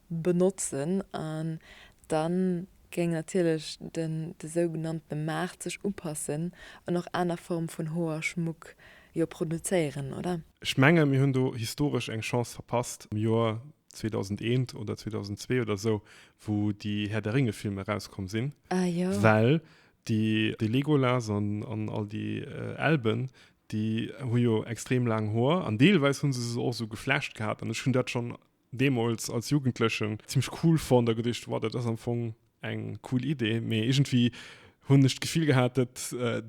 benotzen an da géing natierlech den de sougenanntene Maart sech upassen an och aner Form vun Hoerschmuck jo produzéieren, oder? Ech menge mir hunn do historesch eng Chance verpasst am Joer 2001 oder 2002 oder esou, wou déi Herr der Ringe-Filmer erauskomm sinn, well de Legolas an all déi Elben, déi hu jo extrem laang Hoer an deelweis hu se se och esou geflecht gehat an ech hunn dat schonn deemols als Jugendlechen zimlech cool fonnt a geduecht, wow, dat ass am Fong eng cool Idee, mee iergendwéi hunn ech d'Gefill gehat, dat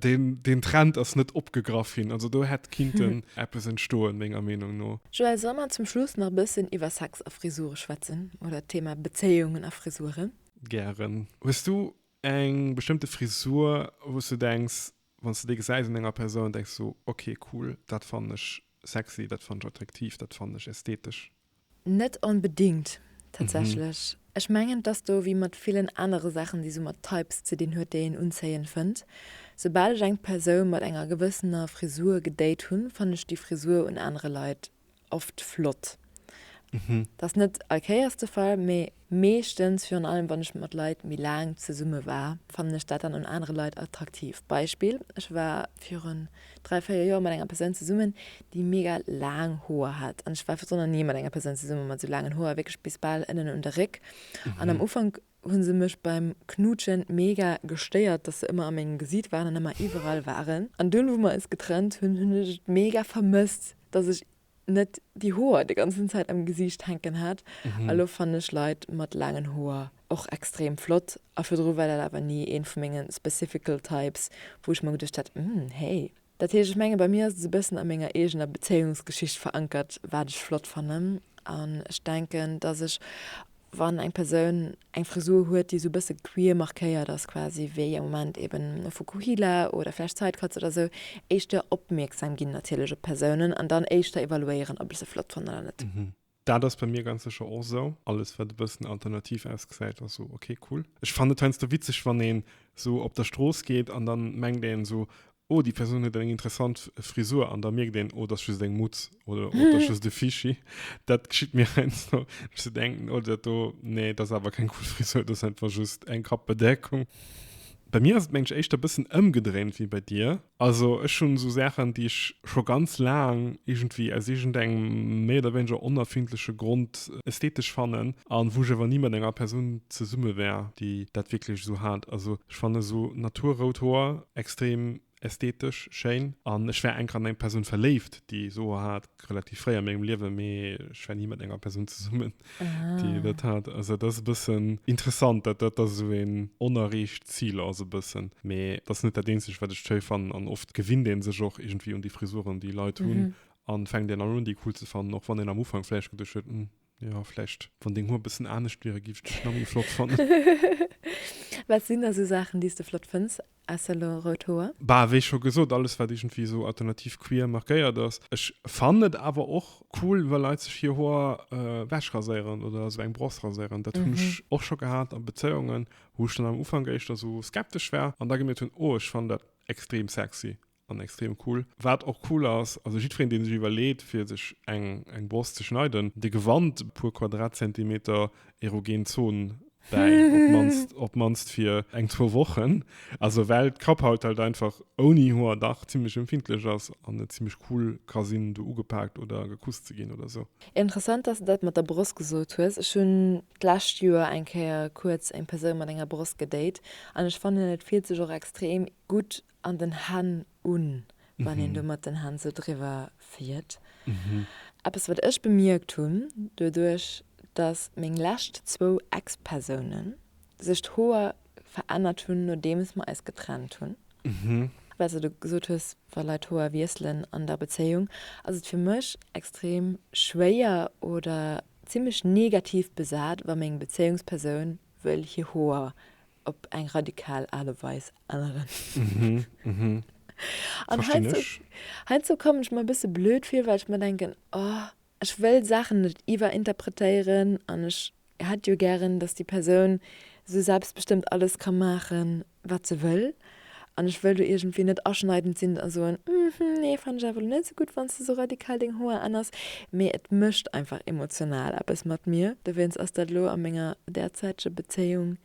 deen deen Trend ass net opgegraff ginn. Also do hätt kinnten eppes entstoen, menger Meenung no. Joël, solle mer zum Schluss nach e bëssen iwwer Sex a Frisure schwätzen oder d'Thema Bezéiungen a Frisuren? Gären. Hues du eng bestëmmte Frisur, wou s du denks, Wann s de dee gesäis un enger Persoun, denks du, ok, cool, dat fannen ech sexy, dat fannen ech attraktiv, dat fannen ech ästhetesch. Net onbedingt, tatsächlech. Ech mengen, et ass do wéi mat villen anere Saachen, déi sou mat Types ze dinn huet, déi een unzéiend fënnt. Soubal ech eng Persoun mat enger gewëssener Frisur gedate hunn, fannen ech déi Frisur un anere Leit oft flott. Dat ass net allkéiers de Fall, mee meeschtens, virun allem wann ech mat Leit méi laang zesumme war, fannen ech dat dann un anere Leit attraktiv. Beispill, Ech war viru dräi, véier Joer mat enger Persoun zesummen, déi mega laang Hoer hat. An ech war virdrun nach ni mat enger Persoun zesummen mat esou laangen Hoer, wierklech bis bal ënnen un de Réck. An am Ufank hun se mech beim knuutschen mega gestéiert dass se ëmmer a mengem Gesiit waren an ëmmer iwwerall waren an dunn wou mer eis getrennt hun hun ech et mega vermësst dass ech net déi Hoer de ganzen Zäit am Gesiicht hänken hat a lo fannen ech Leit mat laangen Hoer och extrem flott a virdru war dat awer ni een vu mengen specifical types wou ech mer geduecht hat, umm hey. Dat heescht, ech menge bei mir ass et esou e bëssen a menger eegener Bezéiungsgeschicht verankert, wat ech flott fannen. An ech denken, dass ech, wann eng Persoun eng Frisur huet, déi esou e bësse queer markéiert ass quasi, wéi am Moment eben e Fukuhila oder vläicht Sidecutts oder esou, éischter opmierksam ginn natierlech op d'Persounen an dann éischter evaluéieren, ob ech se flott fannen oder net. Dat ass bei mir ganz sécher och esou. Alles wat e bëssen alternativ ausgesäit ass esou ok, cool. Ech fannen et heiansdo witzeg wann een esou op der Strooss geet an dann mengt een esou oh déi Persoun huet eng interessant Frisur an da mierkt een oh dat ass just eng Mutz oder oh dat ass just e Fishi. Dat geschitt mir heiansdo ech esou denken oh dat do nee dat ass awer keng cool Frisur dat ass einfach just eng Kappbedeckung. Bei mir ass et mengen ech éischter bëssen ëmgedréint wéi bei dir. Also ech hunn esou Saachen déi ech scho ganz laang iergendwéi aus iergendengem méi oder wéineger onerfindleche Grond ästhetesch fannen an wou ech awer ni mat enger Persoun zesumme wär déi dat wierklech esou hat. Also ech fannen esou Natur-rout Hoer extrem ästhetesch schéin an ech war enker an eng Persoun verléift, déi ech soe hat, relativ fréi a mengem Liewe, mee ech war ni mat enger Persoun zesummen, déi ah. dat hat. Also dat ass e bëssen interessant, dat dat ass esou een onerreecht Zil ass e bëssen. Mee dat ass net dat Eenzegt, wat ech schéi fannen an oft gewinnt ee sech och iergendwéi un déi Frisuren, déi Leit hunn mhm. an fänkt een an un déi cool ze fannen, och wann een am Ufank vläicht geduecht huet, hm, Jo, vläicht wann deng Hoer bëssen anescht wieren, giff ech dech nach méi flott fannen. Wat sinn da sou Saachen déi's de flott fënns ausser lo rout Hoer? Bah, wéi scho gesot, alles wat iergendwéi esou alternativ queer markéiert ass. Ech fannen et awer och cool wa Leit sech hier Hoer wech raséieren oder esou eng Bross raséieren. Dat hunn ech och scho gehat a Bezéiungen wou ech dann am Ufank éischter esou skeptesch war an da gemierkt hunn, oh ech fannen dat extrem sexy an extrem cool. Waat och cool ass, also jidfereen deen sech iwwerleet fir sech eng eng Broscht ze schneiden, de gewannt e puer Quadratzentimeter erogen Zone bäi, op d'mannst op d'mannst fir eng zwou Wochen, also well d'Kapphaut halt einfach ouni Hoer dach zimlech empfindlech ass an et zimlech cool ka sinn do ugepaakt oder gekuss ze ginn oder sou. Interessant dass de dat mat der Bross gesot hues. Ech hunn d'lescht Joer eng Kéier kuerz eng Persoun mat enger Bross gedate an ech fannen et fillt sech och extrem gutt an den Hänn un, wann een do mat den Hänn sou driwwer fiert. Eppes, wat ech bemierkt hunn, doduerch, dass meng lescht zwou Ex-Persoune sech d'Hoer verännert hunn, nodeems mer eis getrennt hunn, well s de gesot hues, wa Leit d'Hoer wiesselen an der Bezéiung, ass et fir mech extrem schwéier oder zimlech negativ besat, wa meng Bezéiungspersoun Wëll hir Hoer op eng radikal Aart a Weis änneren. An heiansdo kommen ech mer e bësse blöd vir, well ech mer denken, oh, ech wëll Saachen net iwwerinterpretéieren an ech hätt jo gären, dass déi Persoun esou selbstbestëmmt alles ka maachen, wat se wëll, an ech wëll do iergendwéi net aschneidend sinn a soen, hm, nee, fannen ech awer elo net esou gutt, wann s de sou radikal deng Hoer änners, mee et mécht einfach emotional eppes mat mir. Dowéinst ass dat elo a menger därzäitege Bezéiung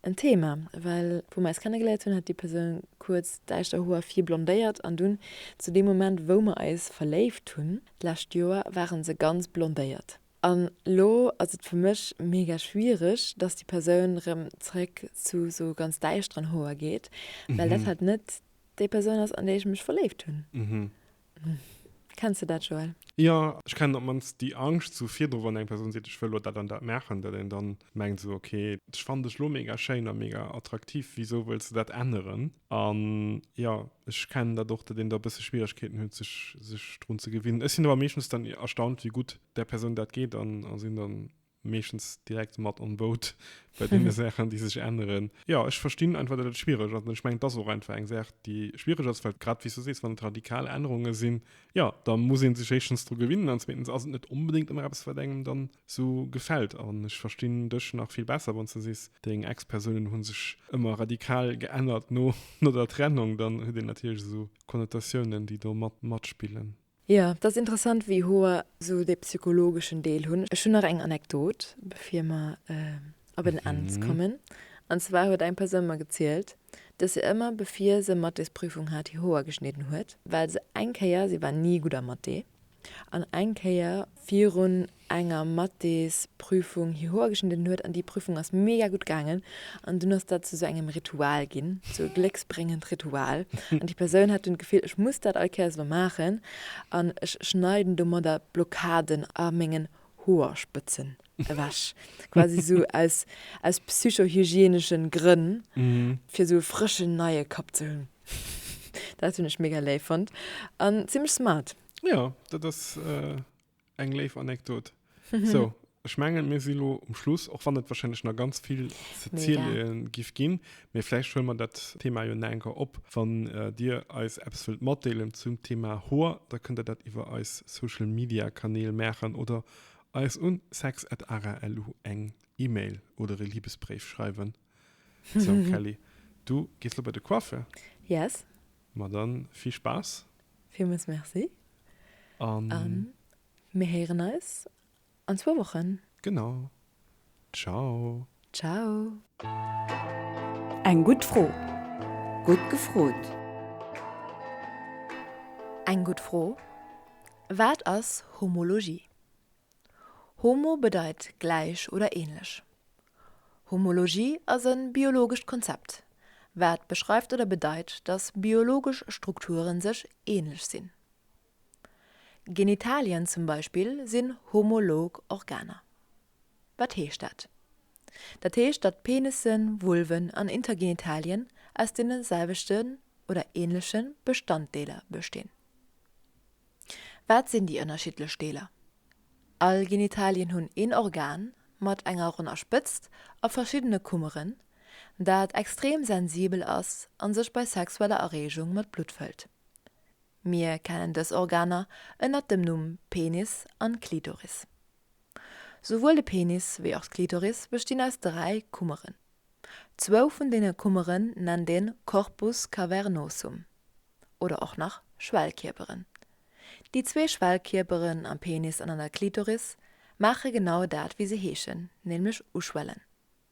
en Thema, well wou mer eis kennegeléiert hunn, hat déi Persoun kuerz däischter Hoer vir blondéiert, an dunn zu deem Moment, wou mer eis verléift hunn d'lescht Joer, ware se ganz blondéiert. An lo ass et fir mech mega schwiereg, dass déi Persoun erëm zeréck zu sou ganz däischteren Hoer geet, well dat halt net déi Persoun ass, an déi ech mech verléift hunn. Kenns de dat, Joël? Jo, ech kennen op d'mannst déi Angscht sou virdru, wann eng Persoun seet, ech wëll elo dat an dat maachen, datt een dann mengt sou, okay, ech fannen dech elo mega schéin a mega attraktiv, wisou wëlls de dat änneren? An jo, ech kennen dat och, datt een da e bësse Schwieregkeeten huet, sech, sech drun ze gewinnen. Ech sinn awer meeschtens dann erstaunt, wéi gutt där Persoun dat geet an, a sinn da meeschtens direkt mat on boat bei deene Saachen, déi sech änneren. Jo, ech verstinn einfach, datt et schwiereg ass. An ech mengen, et ass och einfach eng Saach, déi schwiereg ass, well grad wéi s du sees, wann et radikal Ännerunge sinn, jo, da muss ee sech éischtens dru gewinnen an zweetens ass et net onbedéngt ëmmer eppes, wat engem dann Sou gefällt an ech verstinn dech nach vill besser wanns de sees deng Ex Persounen hunn sech ëmmer radikal geännert no no der Trennung, dann huet een natierlech esou Konnotatiounen déi do mat matspillen. Jo, dass interessant wéi hoer sou dee psychologeschen Deel hunn. Ech hunn nach eng Anekdot bevir mer op en Enns kommen, an zwar huet eng Persoun mer gezielt, dass se ëmmer bevir se Mathésprüfung hat hir Hoer geschnidden huet, well se eng Kéier, si war ni gutt am Mathé, an eng Kéier virun enger Mathésprüfung hierhoer geschnidden huet, an déi Prüfung ass mega gutt gaangen, an dunn ass dat zu sou engem Ritual ginn, sou e glécksbréngend Ritual, an déi Persoun hat dunn d'Gefill, ech muss dat all Kéiers elo maachen, an ech schneiden domadder d'Blockaden a mengen Hoerspëtzen ewech, quasi sou aus aus psychohygienesche Grënn, fir sou e frëschen, neie Kapp ze hunn. Dat hunn ech mega léif fonnt an zimmlech smart. Ja, dat ass äh, eng léif Anekdot. so, ech mengen mir si lo um Schluss, och wann et wahrscheinlech nach ganz vill ze Mega. zielen gif ginn, mee vläicht huelen mer dat Thema jo nach enker op. Wann äh, dir eis eppes wëllt matdeelen zum Thema Hoer, da kënnt der dat iwwer eis Social Media Kanäl maachen oder eis un sex@ara.lu eng E-Mail oder e Liebesbréif schreiwen. So Kelly, du gees lo bei de Coiffeur. Yes. Ma dann vill Spaass! Villmools Merci a mir héieren eis an zwou Wochen. Genau. Ciao. Ciao. Eng gutt Fro. Gutt gefrot. Eng gutt Fro. Wat ass Homologie? Homo bedeit gläich oder ähnlech. Homologie ass e biologescht Konzept, wat beschreift oder bedeit, dass biologesch Strukturen sech ähnlech sinn. Genitalien zum Beispill sinn homolog Organer. Wat heescht dat? Dat heescht, datt Penissen, Vulven an Intergenitalien aus deene selwechten oder ähnleche Bestanddeeler bestinn. Wat sinn déi ënnerschiddlech Deeler? All Genitalien hunn een Organ mat enger ronner Spëtzt a verschiddene Kummeren, dat extrem sensibel ass a sech bei sexueller Erreegung mat Blutt fëllt. Mir kennen dës Organer ënnert dem Numm Penis an Klitoris. Souwuel de Penis wéi och d'Klitoris bestinn aus dräi Kummeren. Zwou vun deene Kummeren nennt een Corpus cavernosum oder och nach Schwellkierperen. Déi zwee Schwellkierperen am Penis an an der Klitoris maache genau dat wéi se heeschen, nämlech uschwellen.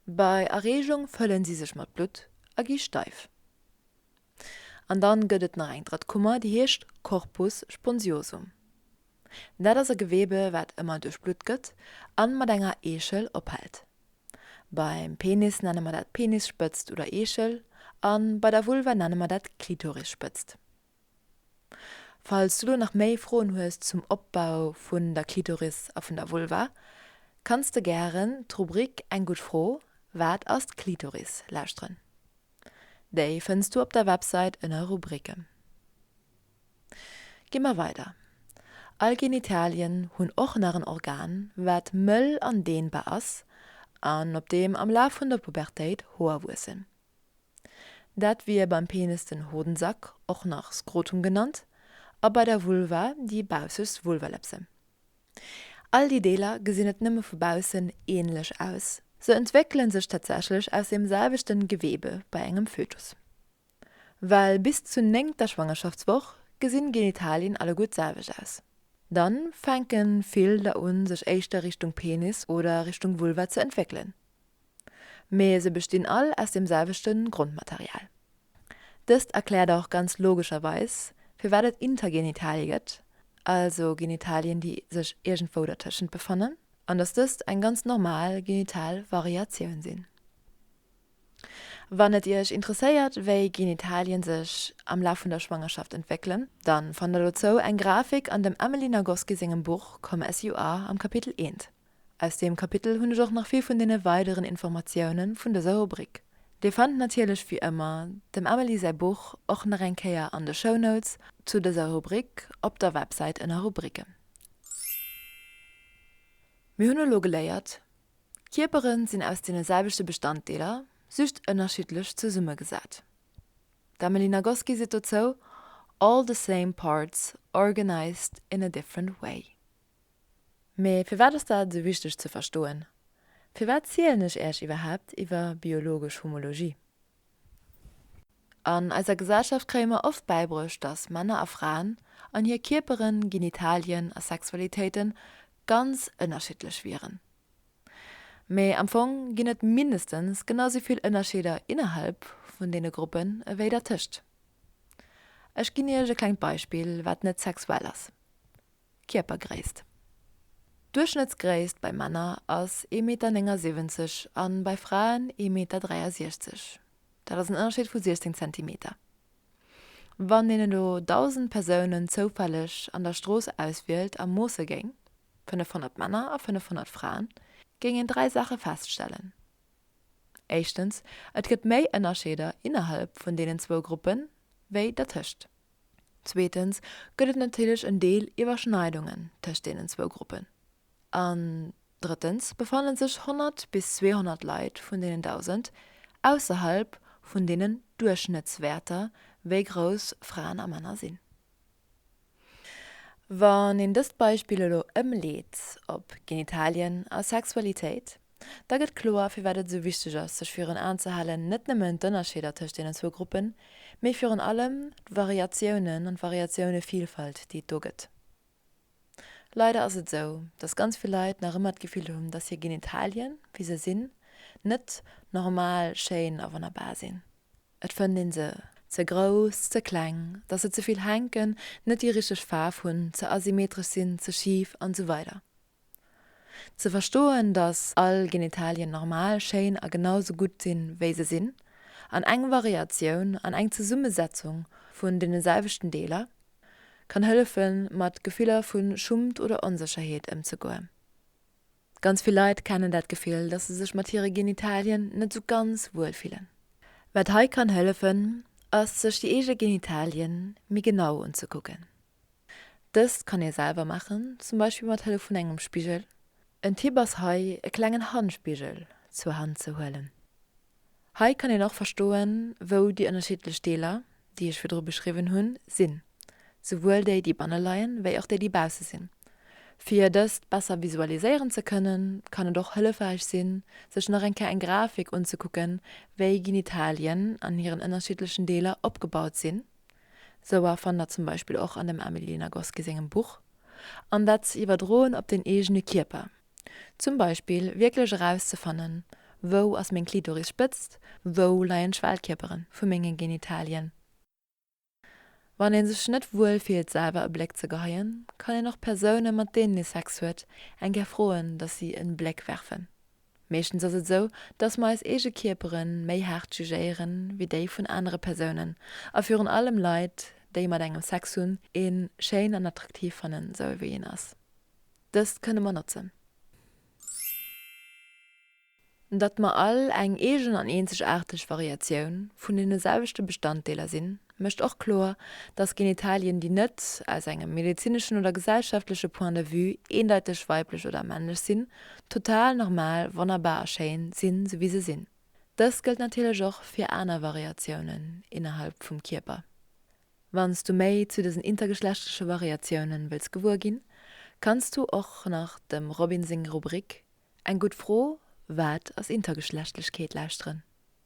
Bei Erreegung fëllen si sech mat Blutt a gi steif. An dann gëtt et nach eng drëtt Kummer, déi heescht Corpus sponsiosum. Dat ass e Gewebe wat ëmmer duerchblutt gëtt an mat enger Eechel ophält. Beim Penis nenne mer dat Penisspëtzt oder Eechel an bei der Vulva nenne mer dat Klitorisspëtzt. Falls du lo nach méi Froen hues zum Opbau vun der Klitoris a vun der Vulva, kanns de gären d'Rubrik Eng gutt Fro, Wat ass d'Klitoris? lauschteren. Déi fënns du op der Websait ënner Rubriken. Gi mer weider. All Genitalien hunn och nach en Organ, wat mëll an dehnbar ass an op deem am Laf vun der Pubertéit Hoer wuessen. Dat wier beim Penis den Hodensack, och nach Skrotum genannt, a bei der Vulva déi baussegst Vulvalepse. All déi Deeler gesinn net nëmme vu baussen ähnlech aus, se entwéckele sech tatsächlech aus deem selwechten Geweebe bei engem Fötus. Well bis zur néngter Schwangerschaftswoch gesinn Genitalien alleguer d'selwecht aus. Dann fänken vill der un sech éischter Richtung Penis oder Richtung Vulva ze entwéckelen. Mee se bestinn all aus dem selwechten Grondmaterial. Dëst erklärt och ganz logescherweis firwat et Intergenitalie gëtt, also Genitalien déi sech iergendwou dertëschent befannen, an dass dëst eng ganz normal genital Variatioun sinn. Wann et Iech interesséiert wéi Genitalien sech am Laf vun der Schwangerschaft entwéckelen, dann fannt der dozou eng Grafik an dem Emily Nagoski sengem Buch Come As You Are am Kapitel I. Aus deem Kapitel hunn ech och nach vill vun deene weideren Informatiounen vun dëser Rubrik. Dir fannt natierlech wéi ëmmer dem Emily säi Buch och nach eng Kéier an de Show Notes zu dëser Rubrik op der Websäit ënner Rubriken. Mir hunn elo geléiert. Kierperen sinn aus deene selwechte Bestanddeeler, just ënnerschiddlech zesummegesat. D'Emily Nagoski seet dozou, All the same parts, organized in a different way. Mee firwat ass dat esou wichteg ze verstoen? Firwat zielen ech Äech iwwerhaapt iwwer biologesch Homologie? An eiser Gesellschaft kréie mer oft bäibruecht, dass Männer a Fraen an hir Kierperen, Genitalien a Sexualitéiten ganz ënnerschiddlech wieren. Mee am Fong ginn et mindestens genau esou vill Ënnerscheeder innerhalb vun deene Gruppen ewéi dertëscht. Ech ginn Iech e klengt Beispill, wat net sexuell ass. Kierpergréisst, Duerchschnëttsgréisst bei Männer ass ee Meter 79 a bei Fraen ee Meter 63, dat ass en Ënnerscheed vu 16 Zentimeter. Wann een elo 1.000 Persounen zoufälleg an der Strooss auswielt a moosse géing, 500 Männer a 500 Fraen, géing een dräi Saache feststellen, Éischtens, et gëtt méi Ënnerscheeder innerhalb vun deenen zwou Gruppen, wéi dertëscht. Zweetens gëtt et natierlech en Deel Iwwerschneidungen tëscht deenen zwou Gruppen. An drëttens befanne sech 100 bis 200 Leit vun deenen 1.000 ausserhalb vun deenen Duerchschnëttswäerter, wéi grouss Fraen a Männer sinn. Wann een dëst Beispill elo ëmleet op Genitalien a Sexualitéit, Da gëtt kloer, firwat et esou wichteg ass, sech virun Aen ze halen, net nëmmen d'Ënnerscheeder tëscht deenen zwou Gruppen, mee virun allem d'Variatiounen an d'Variatioune-Vilfalt, déi et do gëtt. Leider ass et esou, dass ganz vill Leit nach ëmmer d'Gefill hunn, dass hir Genitalien, wéi se sinn, net normal, schéin a wonnerbar sinn. Et fënnt ee se. Ze grouss, ze kleng, dass se ze vill hänken, net déi richteg Faarf hunn, ze asymmetresch sinn, ze schif an esou weider. Ze verstoen, datt all Genitalien normal, schéin a genau sou gutt sinn, wéi se sinn, an eng Variatioun an eng Zesummesetzung vun deene selwechten Deeler, kann hëllefen, mat Gefiller vu Schummt oder Onsécherheet ëmzegoen. Ganz vill Leit kennen dat Gefill, datt se sech mat hire Genitalien net sou ganz wuel fillen. Wat hei kann hëllefen, ass sech déi eege Genitalien méi genau unzekucken. Dëst kann ee selwer maachen, zum Beispill mat Hëllef vun engem Spigel. En Tipp ass hei e klengen Handspigel zur Hand ze huelen. Hei kann een och verstoen wou déi ënnerschiddlech Deeler, déi ech virdru beschriwwen hunn, sinn, souwuel déi déi banne leien, wéi och déi déi bausse sinn. Fir dëst besser visualiséieren ze kënnen, kann et och hëllefräich sinn, sech nach eng Kéier eng Grafik unzekucken, wéi Genitalien an hiren ënnerschiddlechen Deeler opgebaut sinn. Souer fannt der zum Beispill och an dem Amelie Nagoski sengem Buch. An dat ze iwwerdroen op den eegene Kierper. Zum Beispill wierklech erauszefannen, Wou ass meng Klitoris spëtzt? Wou leien d'Schwellkierpere vu menge Genitalien? Wann ee sech net wuel fillt selwer e Bléck ze geheien, kann een och Persoune mat deenen ee Sex huet eng Kéier froen, datt si e Bléck werfen. Meeschtens ass et sou, dass mer eis eege Kierpere méi haart jugéieren, wéi déi vun anere Persounen, a virun allem Leit, déi mat engem Sex hunn, een schéin an attraktiv fannen, sou ewéi een ass. Dëst kënne mer notzen, datt mer all eng eegen an eenzegaarteg Variatioun vun deene selwechte Bestanddeeler sinn, mécht och kloer, datt Genitalien, déi net aus engem medezineschen oder gesellschaftleche Point de vue eendeiteg weiblech oder männlech sinn, total normal, wonnerbar a schéin sinn, esou wéi se sinn. Dëst gëllt natierlech och fir aner Variatiounen innerhalb vum Kierper. Wann s du méi zu dësen intergeschlechtleche Variatiounen wëlls gewuer ginn, kanns du och nach dem Robin seng Rubrik Eng gutt Fro, Wat ass Intergeschlechtlechkeet? lauschteren.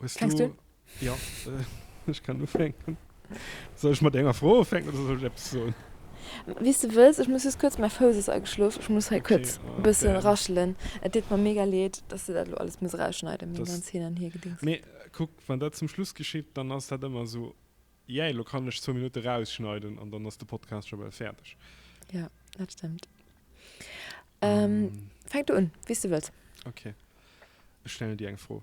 Hues Fängst du? Ja, ech kann ufänken. Soll ech mat enger Fro ufänken oder soll ech eppes soen? Wéi s du wëlls. Ech muss just kuerz, mäi Fouss ass ageschlof, ech muss hei kuerz e bësse raschelen. Et deet mer mega leed, dass du dat elo alles muss erausschneiden, meng ganz Hin an Hiergedings. Mee kuck, wann dat zum Schluss geschitt, dann ass dat ëmmer esou. Jäi, lo kann ech zwou Minutte rausschneiden an dann ass de Podcast scho bal fäerdeg. Jo, dat stëmmt. Fänk du un, wéi s du wëlls. Ok. Ech stellen dir eng Fro.